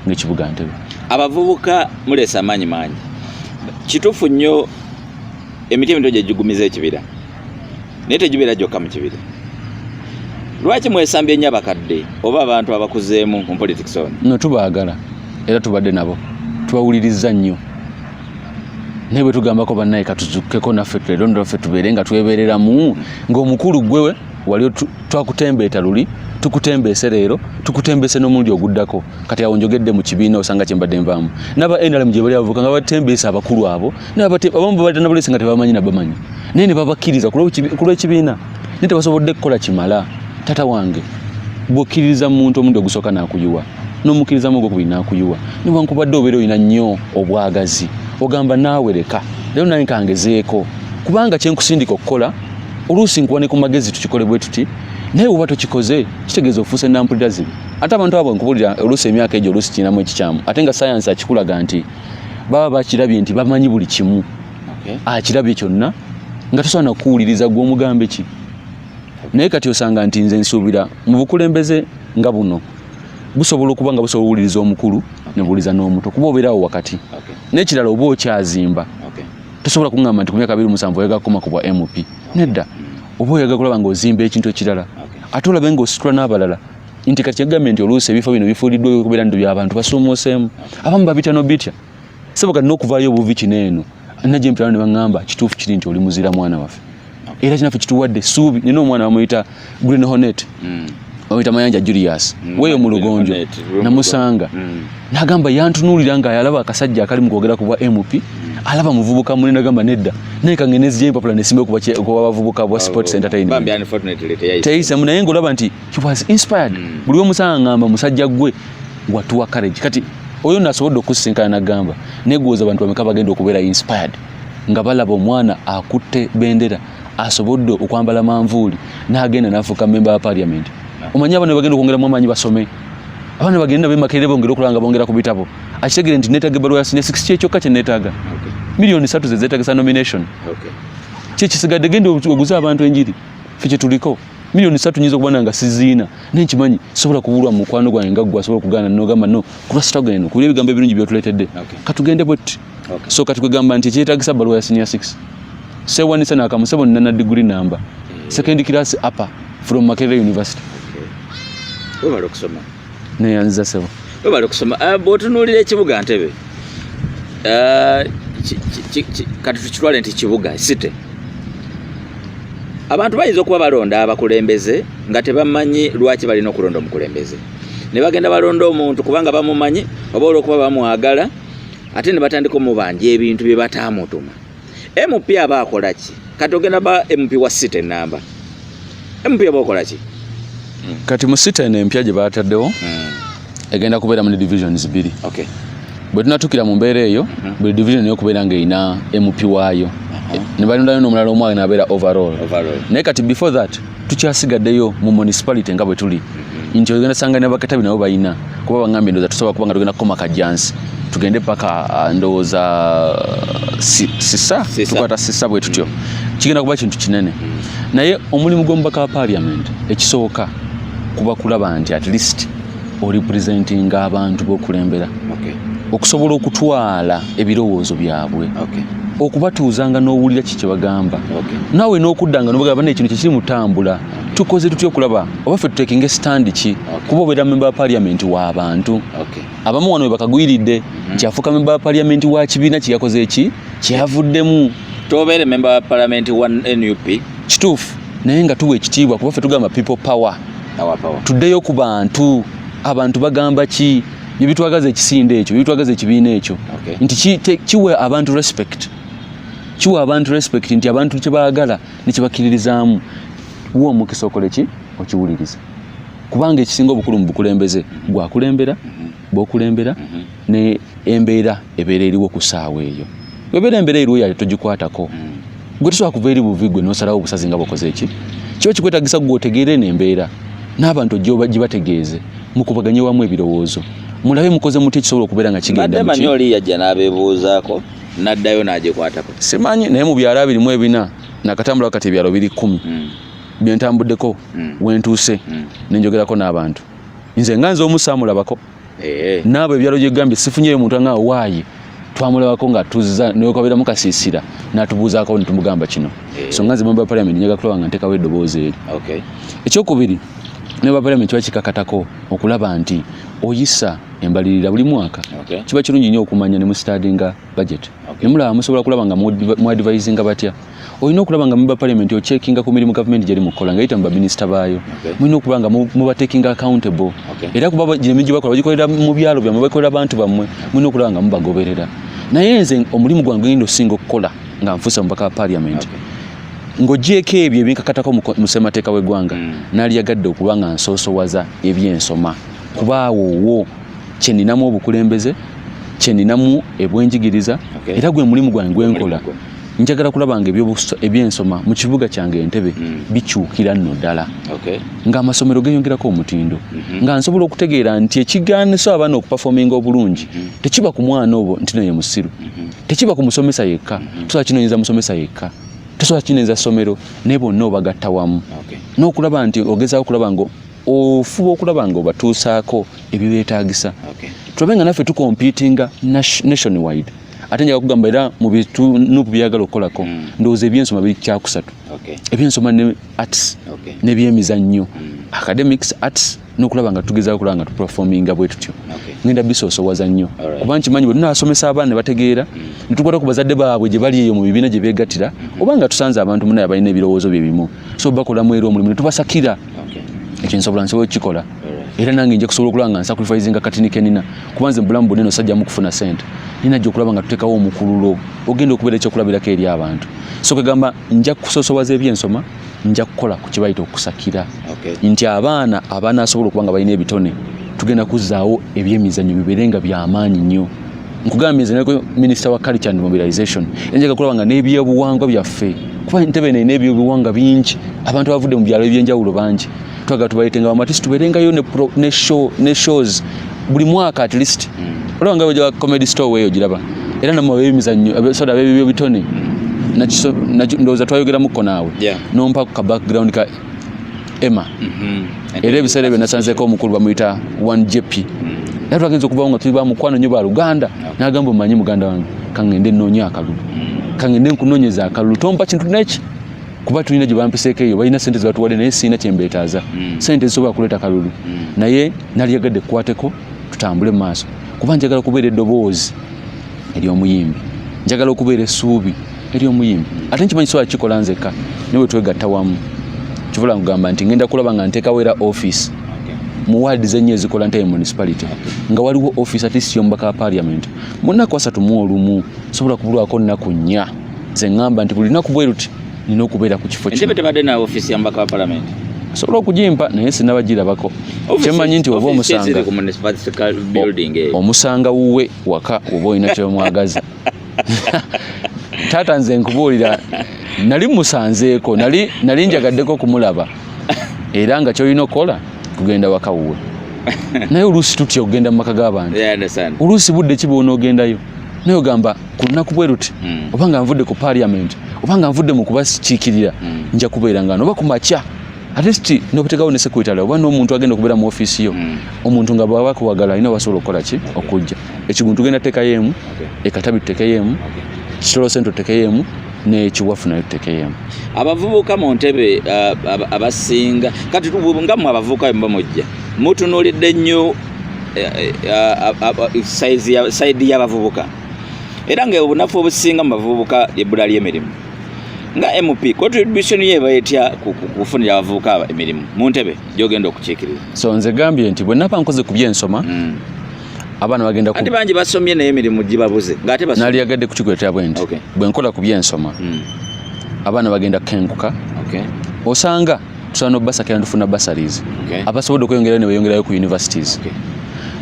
ngaekibuga ntebe abavubuka muleesa amaanyi mangi kituufu nnyo emiti emito gyegigumiza ekibira naye tegibeera gyokka mu kibira lwaki mwesambye ennyo abakadde oba abantu abakuzeemu mu politics ono no tubaagala era tubadde nabo tubawulirizza nnyo naye bwe tugambako bannaye katuzukkeko naffe tulero naffe tubeere nga twebeereramu ng'omukulu gwewe wali twakutembeeta luli tukutembeese leero tukutembeese n'omulundi oguddako kati awo njogedde mu kibiina osanga kyembadde nvaamu naba nrm gye bali abavuka nga batembeesa abakulu abo abamu babadde nabulesi nga tebamanyi nabamanyi naye nebabakkiriza kulw'ekibiina naye tebasobodde kukola kimala tata wange bwokkiririza mu muntu omundi ogusooka nakuyiwa n'omukkirizamu ogwokubiri nakuyiwa newankubadde obeera olina nnyo obwagazi ogamba naawe leka leero naye kangezeeko kubanga kyenkusindika okukola oluusi nkuwa ne ku magezi tukikole bwe tuti naye oba tokikoze kitegeeza ofuuse nampulira zibi ate abantu abo nkubulira oluusi emyaka egyo oluusi kirinamu ekikyamu ate nga sayansi akikulaga nti baba bakirabye nti bamanyi buli kimu okay. akirabye kyonna nga tosobola nakuwuliriza gwe omugambe ki naye kati osanga nti nze nsuubira mu bukulembeze nga buno busobola okuba nga busobola owuliriza omukulu nebuwuliza n'omuto kuba obeerawo wakati okay. nekirala oba okyazimba okay. tosobola kuŋamba nti ku myaka abiri musanvu oyaga kukoma ku bwa mp nedda oba oyaga kulaba nga ozimba ekintu ekirala ate olabe nga ositula n'abalala nti kati kyagambye nti oluusi ebifo bino bifuuliddwa okubeera nti byabantu basuumuuseemu abamu babitya nobitya sebo kati n'okuvaayo obuvi kino eno najje mpirano ne baŋŋamba kituufu kiri nti oli muzira mwana waffe era kinaffe kituwadde essuubi nina omwana bamuyita green honet hmm. bamuyita mayanja julius hmm. weeyo mu lugonjo namusanga hmm. nagamba yantunuulira nga yalaba akasajja akali mu kwogera ku bwa mp alaba muvubuka mune nagamba nedda naye kange nezija empapula nesimbe okuba bavubuka bwa sports entertainment teyisamu naye ngaolaba nti he was inspired mm. buli omusanga ngamba musajja gwe watuwa courage kati oyo nasobodde okusinkana nagamba negwoza abantu bameka bagenda okubeera inspired nga balaba omwana akutte bendera asobodde okwambala manvuuli nagenda nafuuka member wa parliament omanyi abana bagenda okwongeramu amaanyi basome abana bagenda bemakerere bongere okulaba nga bongera ku bitabo akitegere nti netaga ebbaluwa ya sine six kyekyokka kyenetaga miliyoni satu zezetagisa nomination kyekisigadde genda oguze abantu enjiri fe kyetuliko milioni satu nyizo kubana nga sizina nenchi manyi sobola kubulwa mukwano gwa nga gwa sobola kugana no gamba no kula struggle eno kuli bigambo ebirungi byo tuletedde okay. katugende bot okay. so katukugamba nti kyetagisa balwa ya senior 6 se wani sana akamusebo nana degree number yeah. second class upper from Makerere University okay. Wewe kusoma neyanziza sebo webale kusoma ah, bwotunuulira ekibuga ntebe ah, kati tukitwale nti kibuga site abantu bayinza okuba balonda abakulembeze nga tebamanyi lwaki balina okulonda omukulembeze ne bagenda balonda omuntu kubanga bamumanyi oba olwokuba bamwagala ate ne batandika omubanja ebintu bye bataamutuma MP aba akola ki? Kati ogenda ba MP wa city namba. MP aba akola ki? Kati mu city eno empya gye baataddewo hmm. egenda kubeera mu divisions bbiri. Okay. Bwe tunatukira mu mbeera eyo hmm. buli division yo kubeera ng'erina MP waayo. Uh-huh. Ne balondayo n'omulala omu anabeera overall. Overall. Naye kati before that tukyasigaddeyo mu municipality nga bwe tuli mhm. nti ogenda sanga ne bakatabi nabo balina kuba bangambye ndoza tusobola kuba nga tugenda kukoma kajjansi tugende paka uh, ndowooza uh, sisa tukwata sisa bwe tutyo mhm. kigenda kuba kintu kinene mhm. naye omulimu gw'omubaka wa parliament ekisooka kuba kulaba nti at least oripresentinga abantu bokulembera okay. okusobola okutwala ebirowoozo byabwe okay. okubatuuzanga n'owulira ki kyebagamba okay. naawe n'okuddanga nobagamba naye kino kyekiri mutambula okay. tukoze tutya okulaba oba ffe tutekinga esitandi ki okay. kuba obeera memba wa paliamenti w'abantu okay. abamu wano webakagwiridde mm -hmm. kyafuuka memba wa paliamenti wa kibiina kyeyakoze eki kyeyavuddemu tobeere memba wa palamenti wa nup kituufu naye nga tuwa ekitiibwa kuba ffe tugamba people power tuddeyo ku bantu abantu bagamba ki byebitwagaza ekisinde ekyo byebitwagaza ekibiina ekyo nti kiwe abantu respect kiwa abantu respect nti abantu kyebaagala nekyebakiririzaamu wa omukisa okole ki okiwuliriza kubanga ekisinga obukulu mu bukulembeze gwakulembera mm-hmm. bwokulembera mhm. ne embeera ebeera eriwo ku saawa eyo webeera embeera eriwo yayo togikwatako mm. gwe tusobola kuva eri buvi gwe nosalawo obusazi nga bwakoze eki kiba kikwetagisa gwe otegeere nembeera n'abantu gibategeeze mukubaganye wamu ebirowoozo mulabe mukoze muti ekisobola okubeera nga kigendamanyi oli yajja n'abebuuzaako n'addayo n'agikwatako simanyi naye mu byalo abirimu ebina nakatambula kati ebyalo biri kumi mm. byentambuddeko mm. wentuuse nenjogerako n'abantu nze nga nze omu saamulabako eh. naabo ebyalo gyegambye sifunyeyo omuntu anga waayi twamulabako nga tuzza nekabeeramu kasiisira natubuuzaako netumugamba kino eh. so nga nze mamba parliament njaga kulaba nga ntekawo eddoboozi eri ekyokubiri mamba parliament kiba kikakatako okulaba nti oyisa embalirira buli mwaka kiba kirungi nnyo okumanya ne mu stadinga budget ne mulaba musobola kulaba nga mu advisinga batya olina okulaba nga member parliament ochekinga ku mirimu gavumenti gyeri mu kukola nga yita mu baminisita baayo mulina okuba nga mubatekinga accountable era kuba gino emirimu gyebakola bagikolera mu byalo byammwe bagikolera bantu bammwe mulina okulaba nga mubagoberera naye nze omulimu gwange genda osinga okukola nga nfuusa mubaka wa parliament okay. ng'ogyeko ebyo ebinkakatako mu ssemateeka w'eggwanga mm. naliyagadde okuba nga nsoosowaza ebyensoma kuba awo wo kye ninamu obukulembeze kye ninamu ebwenjigiriza era gwe mulimu gwange gwenkola njagala kulaba nga ebyensoma mu kibuga kyange entebe mm. bikyukira nno ddala okay. ng'amasomero geyongerako omutindo mm -hmm. nga nsobola okutegeera nti ekigaaniso abaana okupafominga obulungi mm -hmm. tekiba ku mwana obwo nti noye musiru mm -hmm. tekiba ku musomesa yekka mm -hmm. tusobola kinoyinza musomesa yekka tusobola kinoyinza ssomero naye bonna obagatta wamu okay. n'okulaba nti ogezaako kulaba nga ofuba okulaba nga obatuusaako ebibeetagisa okay. tulabe nga naffe tukompitinga nation wide ate njaga kugamba era mu bitunupu byagala okukolako mm. ndowooza ebyensoma biri kyakusatu okay. ebyensoma ne arts okay. nebyemizannyo mm. academics arts nokulaba nga tugeza okulaba nga tuperforminga bwe tutyo okay. ngenda bisoosowaza nnyo right. kuba nkimanyi bwe tunasomesa abaana ne bategeera mm. ne tukwata ku bazadde baabwe gye bali eyo mu bibiina gye beegattira mm -hmm. oba nga tusanze abantu munaye abalina ebirowoozo bye bimu so bakolamu era omulimu ne tubasakira ekyo nsobola nsobola okukikola era nange nja kusobola okulaba nga nsakurifisinga katini kenina kuba nze mubulamu bwonna eno sajjamu kufuna sente nina gye okulaba nga tuteekawo omukululo ogenda okubeera ekyokulabirako eri abantu so kwegamba nja kusosowaza ebyensoma nja kukola ku kibayita okusakira nti abaana abanasobola okuba nga balina ebitone tugenda kuzzaawo ebyemizannyo bibeere nga byamaanyi nnyo nkugambye nze naleko minisita wa culture and mobilization enjaga kulaba nga n'ebyobuwangwa byaffe kuba entebe nene ebyobuwangwa bingi abantu abavudde mu byalo ebyenjawulo bangi twagala tubaletenga bamatisi tubeerengayo ne shows buli mwaka at least hmm. olaba nga weja comedy store weeyo giraba era namwe ab'emizannyo soda ab'ebibyo bitone hmm. ndowooza twayogeramuko naawe nompa ku ka background ka ema mhm. era ebiseera ebyo nasanzeeko omukulu bamuyita one jp mm. era twagenza okubawo nga tuli bamukwano nyo baluganda nagamba omanyi muganda wange kangende nnoonya akalulu mm. kangende nkunonyeza akalulu tompa kintu neki kuba tulina gye bampiseeko eyo balina sente zebatuwadde naye sirina kyembeetaaza mm. sente zisobola kuleeta kalulu naye naliyagadde kukwateko tutambule mu maaso kuba njagala okubeera eddoboozi ery'omuyimbi njagala okubeera essuubi eri omuyimbi ate nkimanyi sobola kikola nzekka naye wetwegatta wamu kivula nkugamba nti ngenda kulaba nga nteekawo era office mu waadi zenyo ezikola ntaye municipality nga waliwo office ati siyomubaka wa parliament mu nnaku asatu mu olumu sobola kubulwako nnaku nnya ze ŋŋamba nti buli lunaku bwe luti nina okubeera ku kifo kino tebadde na office ya mubaka wa parliament sobola okugimpa naye sinabagirabako kyemanyi nti oba omusanga omusanga wuwe waka oba olina kyemwagaza taata nze nkubuulira nali musanzeeko nali nali njagaddeko okumulaba era nga kyolina okukola kugenda waka wuwe naye oluusi tutya okugenda mu maka g'abantu oluusi budde ki bwonoogendayo naye ogamba ku lunaku bwe luti hmm. oba nga nvudde ku parliament oba nga nvudde mu kubakiikirira hmm. nja kubeera ngano oba ku makya at least nokutekawo ne secretary oba n'omuntu agenda okubeera mu office yo mm. omuntu nga bwaba kuwagala alina wasobola okukola ki okujja ekigundu tugenda tekayo emu ekatabi tutekeyo emu kitolo sente tutekeyo emu nekiwafu nayo tutekeyemu abavubuka mu ntebe uh, abasinga kati nga mwe abavubuka bemba mujja mutunulidde nnyo eh, eh, uh, saidi y'abavubuka era nga obunafu obusinga mu bavubuka ebbula ly'emirimu nga MP contribution ye bayetya kufunira abavubuka emirimu mu ntebe gyogenda okukiikirira so nze gambye nti bwe naba nkoze ku byensoma mm. abaana bagenda ku bangi basomye naye emirimu gibabuze ng'ate basomye nali yagadde kukikuletera bwe nti bwe nkola ku byensoma mm. abaana bagenda kukenguka okay. osanga tusobola n'obubasakira netufuna basaries okay. abasobodde okweyongerayo ne beyongerayo ku universities okay.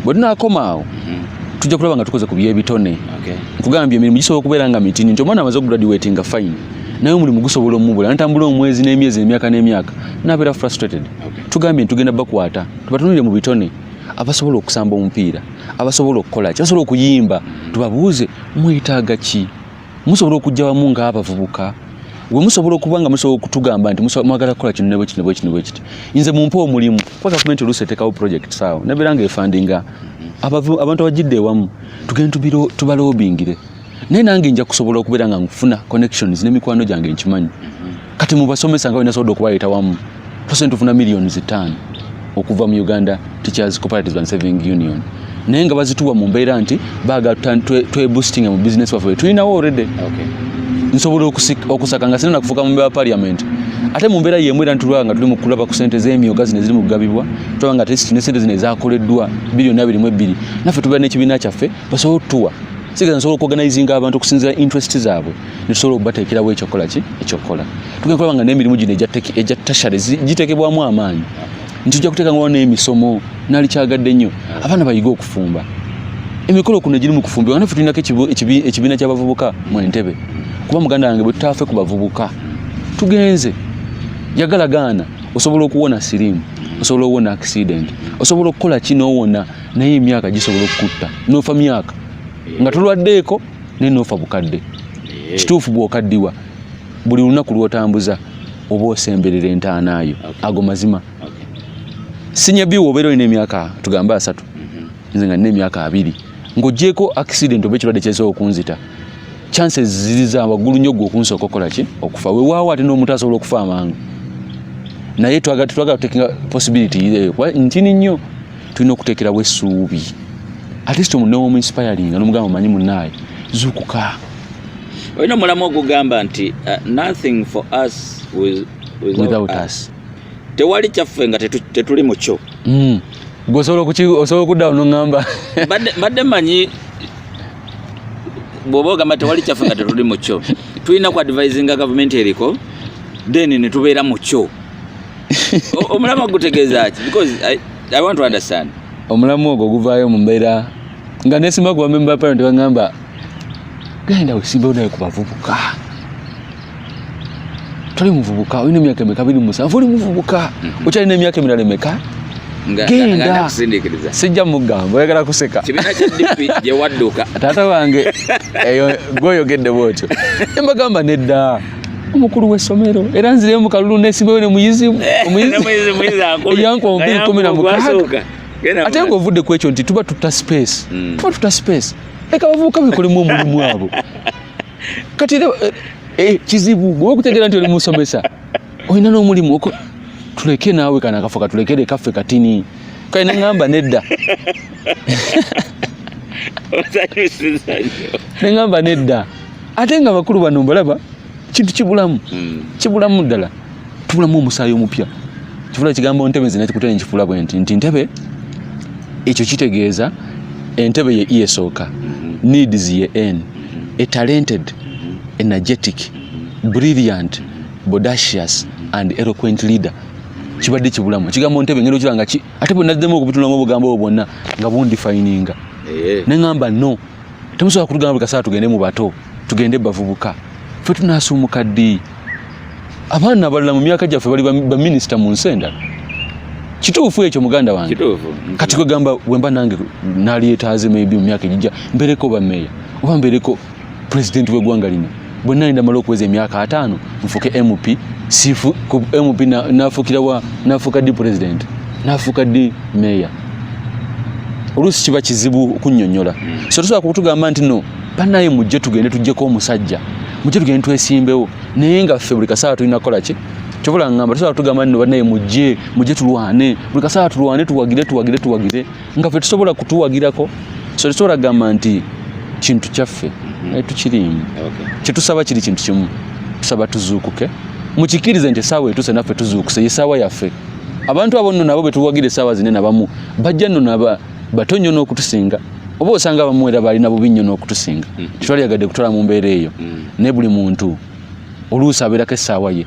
bwe tunaakoma awo mm -hmm. tujja kulaba nga tukoze ku byebitone okay. nkugambye emirimu gisobola okubeera nga mitini nti omwana amaze okugraduate nga fine naye omulimu gusobola omubula natambula omwezi n'emyezi emyaka n'emyaka nabeera frustrated okay. tugambye ntitugenda bakwata tubatunulire mu bitone abasobola okusamba omupiira abasobola okukola ki basobola okuyimba mm-hmm. tubabuuze mwetaaga ki musobola okujja wamu ng'abavubuka gwe musobola okuba nga musobola okutugamba nti mwagala kukola kino nebo kino kino bwekiti nze mumpe omulimu kuba gavumenti oluusi etekawo project saawo nabeera nga efandinga abantu abajidde ewamu tugende tubalobingire naye nange nja kusobola okubeera nga nfuna connections n'emikwano gyange nkimanyi kati mubasomesa nga balina sobola okubaleeta wamu tusobola tufuna millions ttaano okuva mu uganda teachers cooperatives and saving union naye nga bazituwa mu mbeera nti baagala tweboostinga twe mu business waffe tulinawo already okay. nsobola okusaka nga sina nakufuka mu mbeera parliament ate mu mbeera yemu era ntulaba nga tuli mu kulaba ku sente z'emyoga zino eziri mu kugabibwa tulaba nga ne sente zino ezakoleddwa biliyoni abiri mu ebbiri naffe tubeera n'ekibiina kyaffe basobola otutuwa sigeza nsobola okuorganizinga abantu okusinzira interest zaabwe nisobola okubateekerawo ekyokukola ki ekyokukola tugenda kulaba nga n'emirimu gino egya tashare giteekebwamu amaanyi nti tujja kuteeka ngawo n'emisomo nali kyagadde nnyo abaana bayige okufumba emikolo kuno giri mu kufumba nga naffe tulinako ekibiina ky'abavubuka mu entebe kuba muganda wange bwe tutaafe ku bavubuka tugenze yagala gaana osobola okuwona siriimu osobola okuwona akisidenti osobola okukola ki n'owona naye emyaka gisobola okukutta noofa myaka nga tulwaddeeko naye nofa bukadde eh. kituufu bwokaddiwa buli lunaku lwotambuza oba osemberera entaanayo ago mazima sinyabiwo obeera olina emyaka tugambe asatu mhm. nze nga nina emyaka abiri ng'ogyeko accident oba ekirwadde kyezaa okunzita chances ziri za waggulu nnyo gwe okunsooka okukola ki okufa wewaawo ate n'omuntu asobola okufa amangu naye twagala tetwagala tutekinga possibility eh, ntini nnyo tulina okuteekerawo essuubi atist omuntu newomu inspiringa nomugamba omanyi munaaye zukuka olina omulamu ogugamba nti uh, nothing for us without us tewali kyaffe nga tetuli mukyo hmm. gweosobola okudda onongamba badde manyi bwoba ogamba tewali kyaffe nga tetuli mukyo tulina ku advisinga gavumenti eriko then netubeera mukyo omulamwa gutegeeza ki because I, i want to understand omulamwa ogwo guvaayo mu mbeera nga nesimba ku bamemba parent bagamba genda wesimbewo naye ku bavubuka toli muvubuka olina emyaka emeka biri musanvu oli muvubuka mhm. okyalina emyaka emirala emeka genda sijja mugamba oyagala kuseka taata wange eyo gwoyogedde bwotyo embagamba nedda omukulu w'essomero era nzireyo mu kalulu nesimbeyo ne muyizi eyankombe kumi na mukaaga ate nga ovudde ku ekyo nti tuba tutta space hmm. tuba tutta space leka bavubuka bekolemu omulimu abo kati era eh, eh, kizibu gwe okutegeera nti oli musomesa olina n'omulimu tuleke naawe kana kafa katulekere kaffe katini kale neŋamba nedda neŋamba nedda ate nga bakulu bano mbalaba kintu kibulamu hmm. kibulamu ddala tubulamu omusaayi omupya kifula kigambo ntebe nze nakikutera nkifula bwe nti nti ntebe ekyo kitegeeza entebe ye esooka hmm. needs ye n a talented hmm. energetic brilliant bodacious and eloquent leader kibadde kibulamu ekigambo ntebe ngeri okiranga ki ate bwe naddemu okubitulamu obugambo obwo bwonna nga bundifayininga eh. ne ŋamba no temusobola kutugamba buli kaseera tugende mu bato tugende bavubuka ffe tunaasuumuka ddi abaana abalala mu myaka gyaffe bali baminisita mu nsi endala kituufu ekyo muganda wange kati kwegamba wemba nange nalyetaaze maybe mu myaka egijja mbereko bameeya oba mbereko pulezidenti w'eggwanga lino bwe nnali ndamala okuweza emyaka ataano nfuke mp sifu ku mp nafuukira wa nafuuka ddi pulezidenti nafuuka ddi meeya oluusi kiba kizibu okunyonyola hmm. so tusobola kutugamba nti no banaye mujje tugende tujjeko omusajja mujje tugende twesimbewo naye nga ffe buli kasaawa tulina kukola ki kyobola ngamba tusobola kutugamba nti no banaye mujje mujje tulwane buli kasaawa tulwane tuwagire tuwagire tuwagire nga fe tusobola kutuwagirako so tusobola kugamba nti kintu kyaffe mhm. naye tukirimu kyetusaba kiri kintu kimu tusaba tuzuukuke mukikirize nti esaawa etuuse naffe tuzuukuse yesaawa yaffe abantu abo nno nabo betuwagira esaawa zine nabamu bajja nno naba bato nnyo n'okutusinga oba osanga abamu era balina bubi nnyo n'okutusinga mhm. tetwaliyagadde kutwala mu mbeera eyo mhm. naye buli muntu oluusi abeerako essaawa ye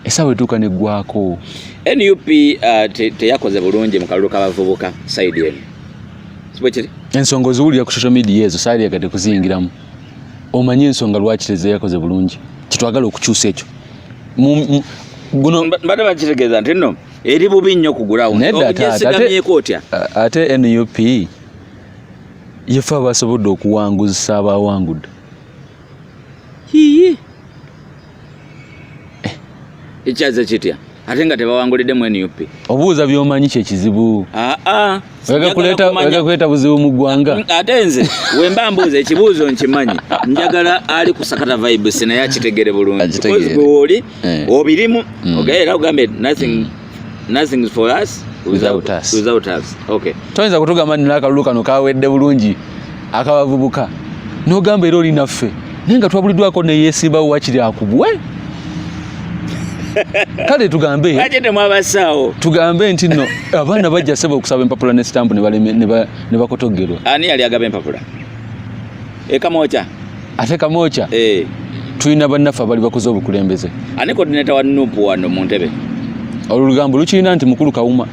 esawa etuuka neggwako nup uh, te, teyakoze bulungi mu kalulu k'abavubuka saidi eno kibwekiri ensonga oziwulira ku social media ezo saidi yagade kuziyingiramu omanyi ensonga lwaki tezeyakoze bulungi kitwagala okukyusa ekyo mbadde bakitegeeza nti no eri bubi nnyo kugulawo neddaogyesigamyeko otya ate nup yefe abasobodde okuwanguzisa abawangudde eh, ekyaze kitya ate nga tebawangulidde mu nup obuuza byomanyi kyekizibu ah, ah. kuleta buzibu mu ggwanga mm, ate nze wemba mbuuza ekibuuzo nkimanyi njagala ali kusakata vibes naye akitegere bulungi weoli eh. obirimu mm. ogaera ogambye nothing mm. nothing is for us without, without us without us okay toyinza kutugamba nina akalulu kano kawedde bulungi akabavubuka nogamba era oli naffe naye nga twabuliddwako neyesimbawo wakiri akubwe kale tugambe tugambe nti no abaana bajja sebe okusaba empapula ne sitampu ne bakotogerwa ani yali agaba empapula e kamocha ate kamocha eh tulina bannaffe abali bakoze obukulembeze ani coordinator wa nup wano mu ntebe olugambo lukirina nti mukulu kawuma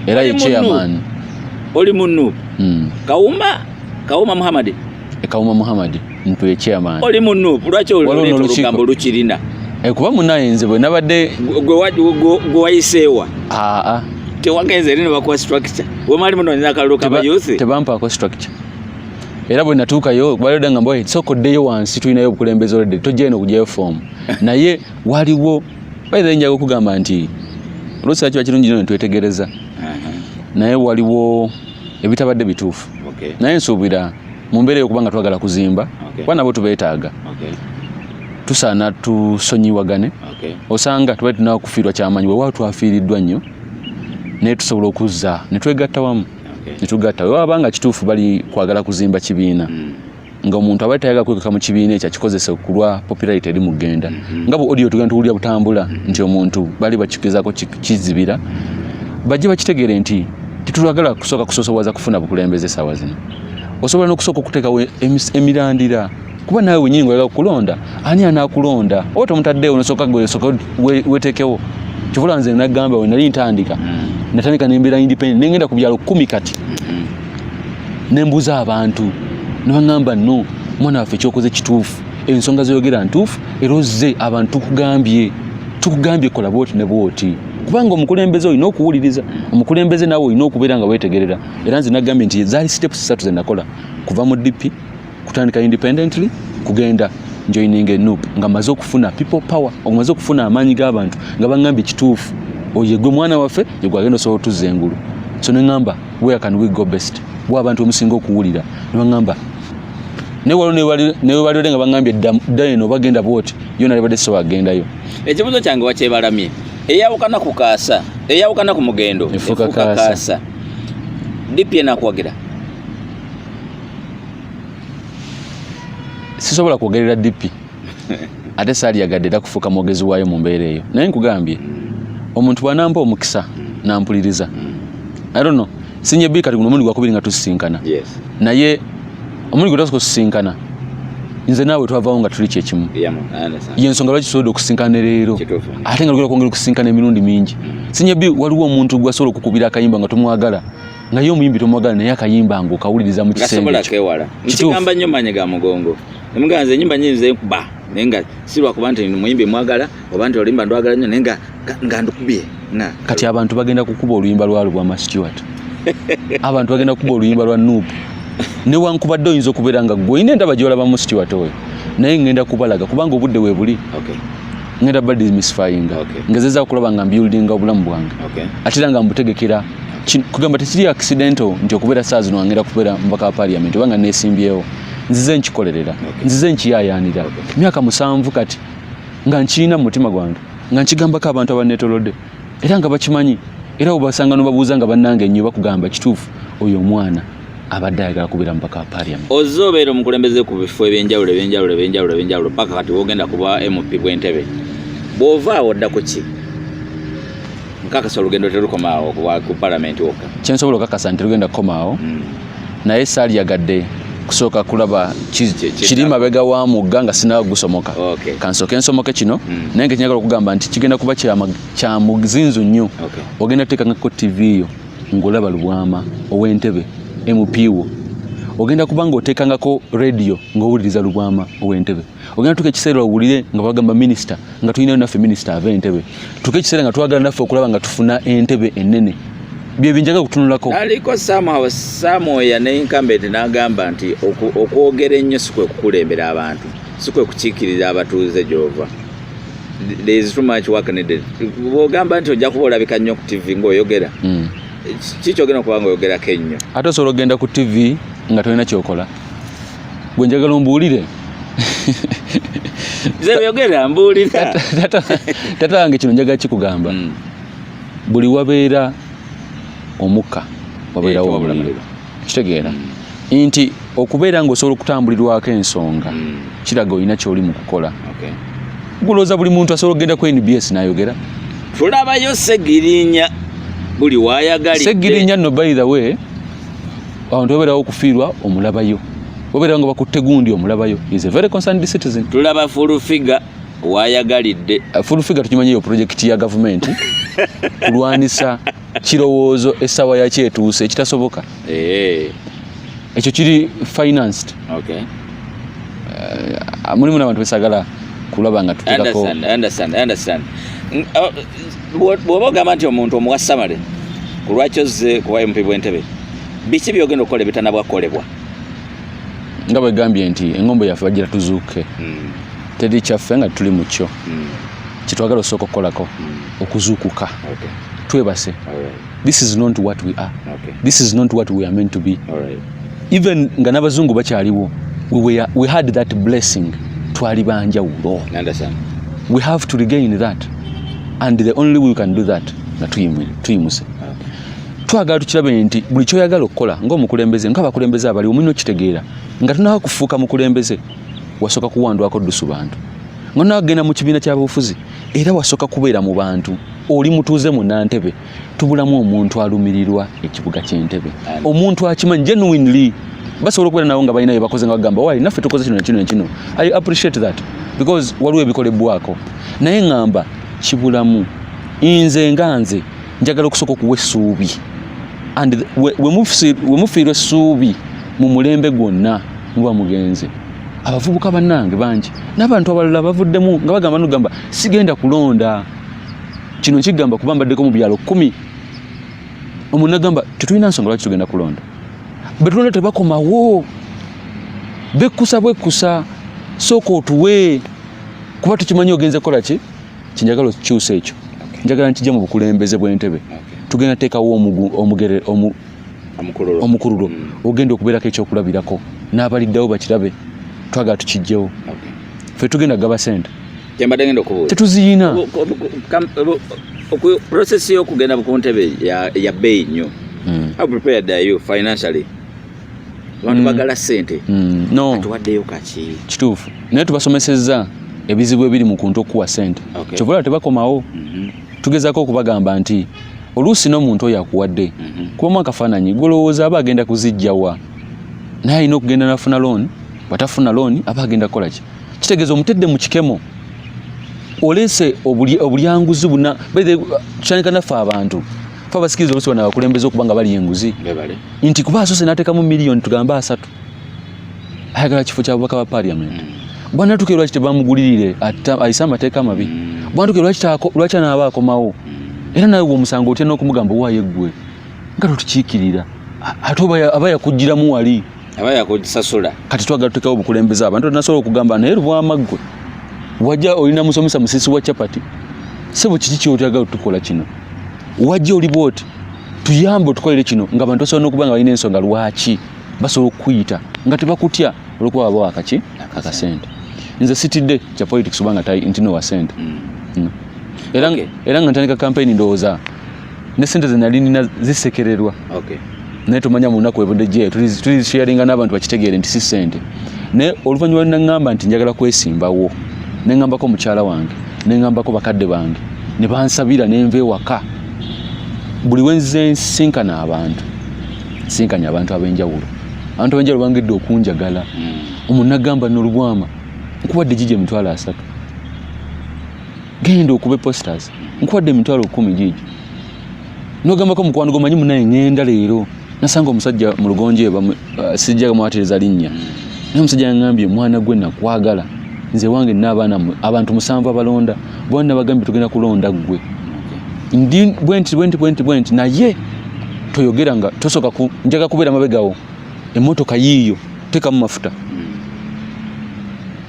era ye chairman oli mu nup mm. kawuma kawuma muhammad e kawuma muhammad mtu ye chairman oli mu nup lwaki olugambo lukirina eh, kuba munaye nze bwe nabadde gwe wayiseewa aa ah, ah. tewagenze eri ne bakuwa structure wemali munonyeza akalulu kaba youth tebampaako structure era bwe natuukayo baleda nga mbawe sooka oddeyo wansi tulinayo obukulembeze oledde tojja eno okujayo foomu naye waliwo bayira njaga okugamba nti oluusi kiba kirungi nyo netwetegereza uh-huh. naye waliwo ebitabadde bituufu naye nsuubira mu mbeera eyokuba nga twagala kuzimba kuba nabo tubeetaaga tusaana tusonyiwagane osanga tuba tunakufiirwa kyamanyi wewa twafiiriddwa nnyo naye tusobola okuzza netwegatta wamu netugatta okay. wewaba nga kituufu bali kwagala kuzimba kibiina mm. nga omuntu abali tayaga kwekeka mu kibiina ekyo akikozesa okulwa popularity eri mugenda mm -hmm. nga bu audio tugenda tuwulira butambula mm -hmm. nti omuntu bali bakikizako kizibira bajje bakitegere nti tetulagala kusooka kusosowaza kufuna bukulembeze esawa zino osobola nokusooka okuteekawo emirandira kuba nawe wenyini ngoyagala kulonda ani anakulonda oba tomutaddewo nosoka gwesoka wetekewo kivula nze nagamba we nali ntandika mm. natandika nembeera independent nengenda ku byalo kumi kati mm-hmm. nembuuza abantu nebagamba no mwana waffe kyokoze kituufu ensonga zoyogera ntuufu era ozze abantu tukugambye tukugambye kola bwoti ne bwoti kubanga omukulembeze olina okuwuliriza omukulembeze nawe olina okubeera nga wetegerera era nze nagambye nti zaali steps satu zenakola kuva mu dipi kutandika independently kugenda joining a noob nga maze okufuna people power omaze okufuna amaanyi g'abantu nga bangambye kituufu oye gwe mwana waffe yegwe agenda osobola otuzza engulu so ne ngamba where can we go best wa abantu omusinga okuwulira ne bangamba newebalire nga bangambye dda eno bagenda bwoti yo nalibadde so agendayo ekibuzo kyange wakyebalamye eyawukana ku kaasa eyawukana ku mugendo efuka kaasa dipi enakuwagira sisobola kwogerera dipi ate saaliyagadde era kufuuka mwogezi waayo mu mbeera eyo naye nkugambye omuntu bwanampa omukisa nampuliriza arono sinye bi kati guno omundi gwakubiri nga tusisinkana naye omundi gwetasoka osisinkana nze naawe twavawo nga tuli kyekimu yensonga lwaki tusobodde okusinkana ne leero ate nga lugera okwongera okusinkana emirundi mingi mm. sinye bi waliwo omuntu gwasobola okukubira akayimba nga tomwagala naye omuyimbi tomwagala naye akayimba nga okawuliriza mu kisengeasobolakewala nkigamba nnyo maanyi ga mugongo emugaa nze enyimba nyinze nkuba naye nga si lwakuba nti muyimbi mwagala oba nti oluyimba ndwagala nnyo naye nga ndukubye kati abantu bagenda kukuba oluyimba lwa lubwama stewart abantu bagenda kukuba oluyimba lwa nup newankubadde oyinza okubeera nga gweina endaba gyolabamu stewart oyo naye ngenda kubalaga kubanga obudde webuli okay. ngenda badimisfyinga okay. ngezeza okulaba nga mbuildinga obulamu bwange okay. ate era nga mbutegekera kugamba tekiri accidental nti okubeera saa zino wangera kubeera mubaka wa parliament oba nga nesimbyewo nzize nkikolerera nzize nkiyayaanira myaka musanvu kati nga nkirina mu mutima gwange nga nkigambako abantu abanetolodde era nga bakimanyi era obasanga nobabuuza nga bannange nnyo bakugamba kituufu oyo omwana abadde ayagala kubeera mubaka wa parliament ozze obeera omukulembeze ku bifo ebyenjawulo ebyenjawulo ebyenjawulo ebyenjawulo paka kati wogenda kuba mp bwentebe bw'ova awo dda ku ki nkakasa olugendo terukomaawo ku palamenti wokka kyensobola okakasa nti lugenda kukomaawo hmm. naye saaliyagadde kusooka kulaba kiri mabega wa mugga nga sinawa gusomoka kansooke nsomoke kino hmm. naye nga kinyagala okugamba nti kigenda kuba kya muzinzu nnyo ogenda kuteekangako ttivi yo ng'olaba lubwama ow'entebe mp wo ogenda kuba ng'oteekangako rediyo ng'owuliriza lubwama ow'entebe ogenda tuka ekiseera owulire nga bagamba minisita nga tulinayo naffe minisita ava entebe tuka ekiseera nga twagala naffe okulaba nga tufuna entebe ennene byebinjaga kutunulako naliko samwoya neinkambeti nagamba nti okwogera ennyo si kwe kukulembera abantu si kwe kukiikirira abatuuze gyova there is too much work needed bwogamba nti ojja kuba olabika nnyo ku tv ngaoyogera hmm. kikyogenda okuba nga oyogerako ennyo ate osobola okugenda ku tv nga tolina kyokola gwe njagala ombuulire zeyogera mbuulira tata wange kino njagala kikugamba hmm. buli wabeera omukka wabeerawo eh, omuliro kitegeera hmm. nti okubeera nga osobola okutambulirwako ensonga hmm. kiraga olina kyoli mu kukola gulooza buli muntu asobola okugenda ku nbs nayogera tulabayo segirinya buli wayagalidde segirinya no by the way awo ntiwabeerawo okufiirwa omulabayo wabeera nga bakutte gundi omulabayo is a very concerned citizen tulaba full figure wayagalidde uh, full figure tukimanyi eyo project ya gavumenti kulwanisa kirowoozo essaawa yakyo etuuse ekitasoboka eh. ekyo kiri financed okay. uh, mulimu nabantu besagala kulaba nga tutekako bw'oba ogamba nti omuntu omuwa samale ku lwaki ozze ku bump bw'entebe biki byogenda okukola ebitanabwakolebwa nga bwegambye nti engombo yaffe bagira tuzuuke hmm. teri kyaffe nga tuli mu kyo hmm. kyetwagala osooka okukolako hmm. okuzuukuka twebase this is not what we are okay. this is not what we are meant to be All right. even nga n'abazungu bakyaliwo we, were, we had that blessing twali banjawulo we have to regain that and the only we can do that nga tuyimuse twagala tukirabe nti buli kyoyagala okukola ngaomukulembeze nga abakulembeze abaliwo mulina okitegeera nga tunawa kufuuka mukulembeze wasooka kuwandwako dusu bantu nga nawa kugenda mu kibiina kyabufuzi era wasooka kubeera mu bantu oli mutuuze mu nantebe tubulamu omuntu alumirirwa ekibuga kyentebe omuntu akimanyi genuinely basobola okubeera nawo nga balina byebakoze nga bagamba wali naffe tukoze kino nakino nakino i appreciate that because waliwo ebikolebwako naye ngamba kibulamu nze nga nze njagala okusooka okuwa essuubi and wemufiirwa essuubi mu mulembe gwonna muba mugenze abavubuka bannange bangi n'abantu abalala bavuddemu nga bagamba nogamba sigenda kulonda kino nkigamba kuba mbaddeko mu byalo kumi omu nagamba tetulina nsonga lwaki tugenda kulonda betulonda tebakomawo bekkusa bwekkusa sooka otuwe kuba tukimanyi ogenze kukola ki kyenjagala okikyusa ekyo njagala nkijja mu bukulembeze bw'entebe tugenda teekawo omugere omukululo mm. ogenda okubeerako ekyokulabirako n'abaliddawo bakirabe twagala tukijjewo fe tugenda gaba sente kyembadde ngenda okubuuza tetuziyina process y'okugenda ku ntebe ya bbeeyi nnyo hmm. how prepared are you financially abantu hmm. bagala sente hmm. no tuwaddeyo kaki kituufu naye tubasomesezza ebizibu ebiri mu kuntu okukuwa sente kyova olaba tebakomawo mhm. tugezako okubagamba nti oluusi n'omuntu oyo akuwadde mhm. kubamu akafaananyi golowooza aba agenda kuzijjawa naye alina okugenda nafuna looni bwatafuna looni aba agenda kukola ki kitegeeza omutedde mu kikemo oleese obulyanguzi buna kitandika naffe abantu fe abasikiriza olusi bana bakulembeza okuba nga bali enguzi nti kuba asoose n'ateekamu miliyoni tugambe asatu ayagala kifo kya bubaka ba parliament mm. bwanatuke lwaki tebamugulirire ayise amateeka amabi mm. bwanatuke lwaki anaaba akomawo mm. era nawe omusango otya n'okumugamba owayo eggwe nga totukiikirira ate aba yakugiramu wali aba yakujisasula kati twagala tutekawo obukulembeze abantu nasobola okugamba naye lubwama ggwe wajja olina musomesa musisi wa chapati sebo kiki kyotagala tukola kino wajja oli bwoti tuyambe otukolere kino nga abantu basobola nokuba nga balina ensonga lwaki basobola okukuyita nga tebakutya olwokuba baba wakaki akasente nze sitidde kya politics obanga nti nowasente mm. mm. era nga ntandika kampeyini ndowooza ne sente ze nali nina zisekererwa okay. naye tomanya mu lunaku webudde gyeyo tulizisharinga n'abantu bakitegeere nti si sente naye oluvannyuma naŋŋamba nti njagala kwesimbawo ne ŋŋambako mukyala wange ne ŋŋambako bakadde bange ne bansabira ne nva ewaka buli wenze nsinkana abantu nsinkanya abantu ab'enjawulo abantu ab'enjawulo bangidde okunjagala hmm. omuntu nagamba nolubwama nkuwadde gigi emitwalo asatu genda okube posters nkuwadde emitwalo kumi giigi nogambako mukwano gomanyi munaye ngenda leero nasanga omusajja mu lugonje uh, sijja mwatiriza linnya naye omusajja yangambye mwana gwe nakwagala nze wange naabaana abantu musanvu abalonda bona nabagambye tugenda kulonda ggwe ndi bwenti bwenti bwenti bwenti naye toyogera nga tosoka njaga kubeera mabegawo Emmotoka yiiyo tekamu mafuta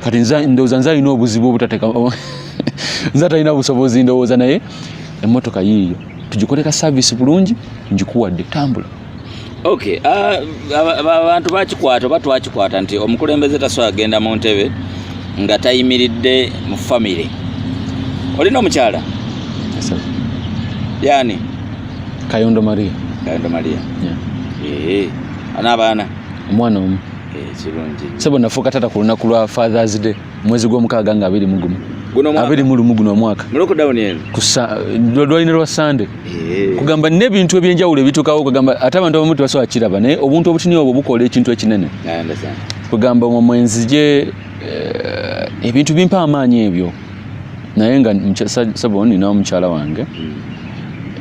kati ndowooza nze alina obuzibu obutateka nze atalina busobozi ndowooza naye emmotoka yiiyo tugikoleka saavisi bulungi ngikuwadde tambula ok ah, abantu bakikwata oba twakikwata nti omukulembeze tasobola agenda mu ntebe nga tayimiridde mu famire olina omukyala yani Kayondo Maria. Kayondo Maria. Yeah. Ehe. Ana abaana? Omwana omu. Eh, kirungi. Sebo nafuuka taata ku lunaku lwa Father's Day mwezi gw'omukaaga nga abiri mu gumu. Guno mwaka. Abiri mu lumu guno omwaka. Mu lockdown eno. Kusa lwalina lwa Sunday. Eh. Kugamba n'ebintu eby'enjawulo ebitukawo kugamba ate abantu abamu tebasobola kiraba naye obuntu obutini obwo bukola ekintu ekinene. Kugamba omwenzi gye eh, ebintu bimpa amaanyi ebyo. naye nga sebo nina omukyala wange hmm.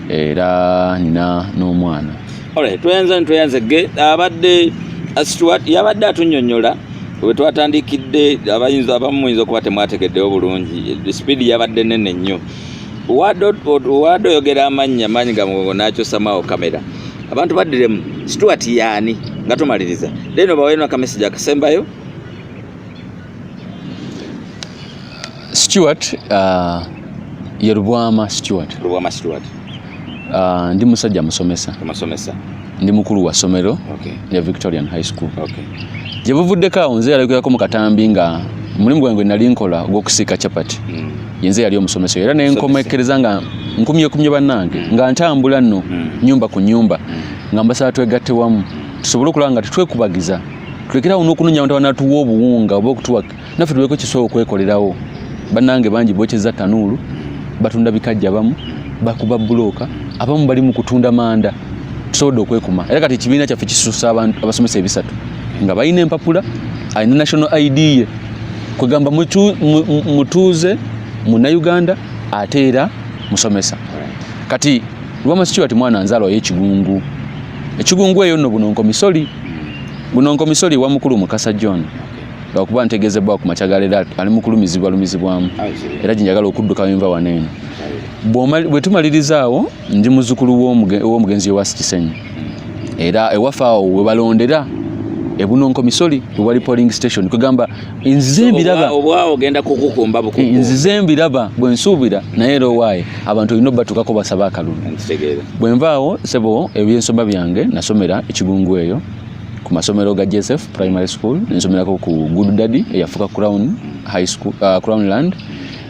era nina n'omwana tweyanza nitweyanze ge abadde stuart yabadde atunyonyola wetwatandikidde abayinza abamu muyinza okuba temwategeddewo bulungi sipiidi yabadde nene nnyo wade oyogera amannya maanyi ga mugongo nakyosamawo kamera abantu baddiremu stuart yaani nga tumaliriza then obawenakamesigi akasembayo Stuart uh, ye Lubwama Stuart. Lubwama Stuart. Uh, ndi musajja musomesa. Musomesa. Ndi mukulu wa somero okay. ya Victorian High School. Okay. Gye buvuddeko awo nze yalagirirako mu katambi nga omulimu gwange nali nkola ogw'okusiika chapati mm. yenze yali omusomesa era ne nkomekereza nga nkumyekumye bannange mm. nga ntambula nno mm. nyumba ku nyumba mm. nga mbasaba twegatte wamu tusobole okulaba nga tetwekubagiza tulekerawo n'okunoonya abantu abanatuwa obuwunga oba okutuwa naffe tubeeko kisobola okwekolerawo bannange bangi bokyeza tanuulu batunda bikajja bamu bakuba bulooka abamu bali mu kutunda manda tusobodde okwekuma era kati ekibiina kyaffe kisusa abantu abasomesa ebisatu nga balina empapula alina national id ye kwegamba mutuuze munauganda ate era musomesa kati lwamasikiwa ti mwana nzaalwayo ekigungu ekigungu eyo nno buno nkomisoli Guno nkomisoli wa mukulu Mukasa John lwakuba ntegezebbwa ku makya galeero ali mu kulumizibwa lumizibwamu era gye njagala okudduka wenva wano eno bwe tumalirizaawo ndi muzzukulu w'omugenzi ewasi kisenyi era ewaffe awo we balondera ebunonko misoli wewali polling station kwegamba nzize mbiraba obwawo ogenda kukukumba bukuku eh, nzize mbiraba bwe nsuubira naye era owaaye abantu olina obatukako basaba akalulu bwe nvaawo sebo ebyensoma byange nasomera ekigungu eyo ku masomero ga joseph primary school nensomerako ku good daddy eyafuka crown high school uh, crown land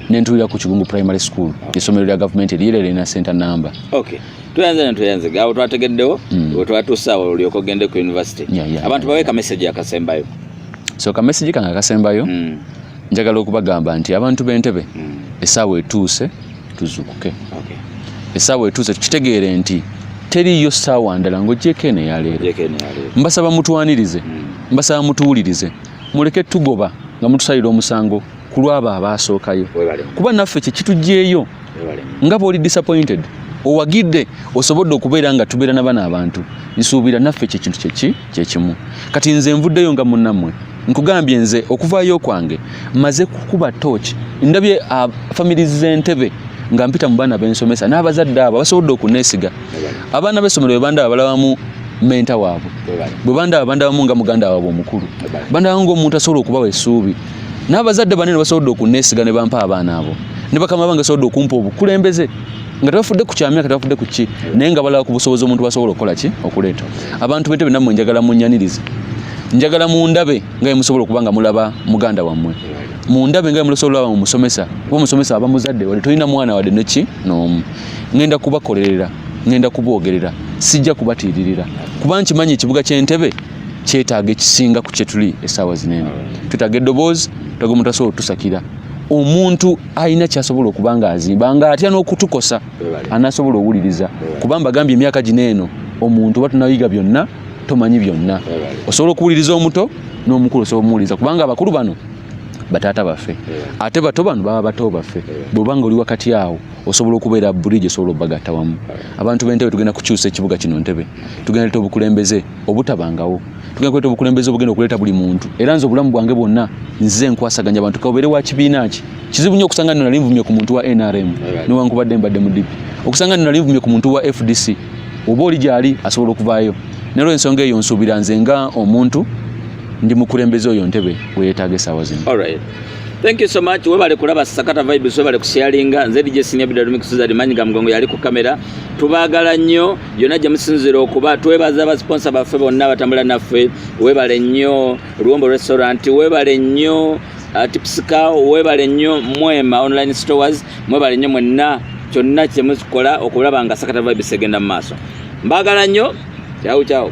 nentulira ku kigungu primary school esomero lya gavumenti eriyera lirina center number okay tuyanze ne tuyanze awo twategeddewo mm. wetwatuusa awo olyoka ogende ku university yeah, yeah, abantu yeah, baweeka yeah. message akasembayo so ka message kange akasembayo mm. njagala okubagamba nti abantu b'entebe mm. esaawa etuuse tuzukuke okay. esaawa etuuse tukitegeere nti teriyo saawa ndala ng'ogyeko eno eyaleero mbasaba mutwanirize mm. mbasaba mutuwulirize muleke tugoba nga mutusalira omusango ku lwabo abaasookayo kuba naffe kye kitugyeyo nga bw'oli disappointed owagidde osobodde okubeera nga tubeera na bana abantu nsuubira naffe kyekintu kyeki kyekimu kati nze nvuddeyo nga munammwe nkugambye nze okuvaayo kwange maze kukuba tooki ndabye ah, famiri z'entebe nga mpita mu baana bensomesa n'abazadde abo basobodde okuneesiga abaana b'essomero bebandaba balabamu menta waabwe bwe bandaba bandabamu nga muganda waabwe omukulu bandabamu ngaomuntu asobola okubawa essuubi n'abazadde banene basobodde okunneesiga ne bampa abaana abo ne bakama bange basobodde okumpa obukulembeze nga tebafudde ku kyamyaka tebafudde ku ki naye nga balaba ku busobozi omuntu basobola okukola ki okuleeta abantu bete benamwe njagala munyanirize njagala mundabe nga musobola okuba nga mulaba muganda wammwe mundabe nga musobola olaba mumusomesa kuba omusomesa aba muzadde wade tolina mwana wade neki noomu ngenda kubakolerera ngenda kuboogerera sijja kubatiiririra kuba nkimanyi ekibuga ky'entebe kyetaaga ekisinga ku kyetuli esaawa zinene twetaaga eddoboozi twetaaga omuntu asobola otusakira omuntu alina kyasobola okuba nga azimba nga atya n'okutukosa anasobola owuliriza kuba mbagambye emyaka gino eno omuntu oba tunayiga byonna tomanyi byonna osobola okuwuliriza omuto n'omukulu osobola omuwuliriza kubanga abakulu bano bataata baffe ate bato bano baba bato baffe bwoba nga oli wakati awo osobola okubeera bridge osobola obagatta wamu abantu b'entebe tugenda kukyusa ekibuga kino ntebe tugenda leta obukulembeze obutabangawo tugenda kuleeta obukulembeze obugenda okuleeta buli muntu era nze obulamu bwange bwonna nze nkwasaganya abantu kabeere wa kibiina ki kizibu nnyo okusanga nno nali nvumye ku muntu wa nrm newankubadde mbadde mudipi okusanga nno nali nvumye ku muntu wa fdc oba oli gyali asobola okuvaayo nalwo ensonga eyo nsuubira nze nga omuntu ndi mukulembeze oyo ntebe weyetaaga esaawa zino Thank you so much. Webale kulaba Sakata Vibes, webale kusharinga. Nze DJ Senior Bidalumi Kusuza Limanyi Gamgongo yali ku kamera. tubaagala nnyo yonna gye musinzira okuba twebaza abasiponsa baffe bonna abatambula naffe webale nnyo luwombo restaurant webale nnyo uh, tipsika webale nnyo mwema online stores mwebale nnyo mwenna kyonna kyemukola okulaba nga sakata vibes egenda mu maaso mbaagala nnyo kyawu kyawu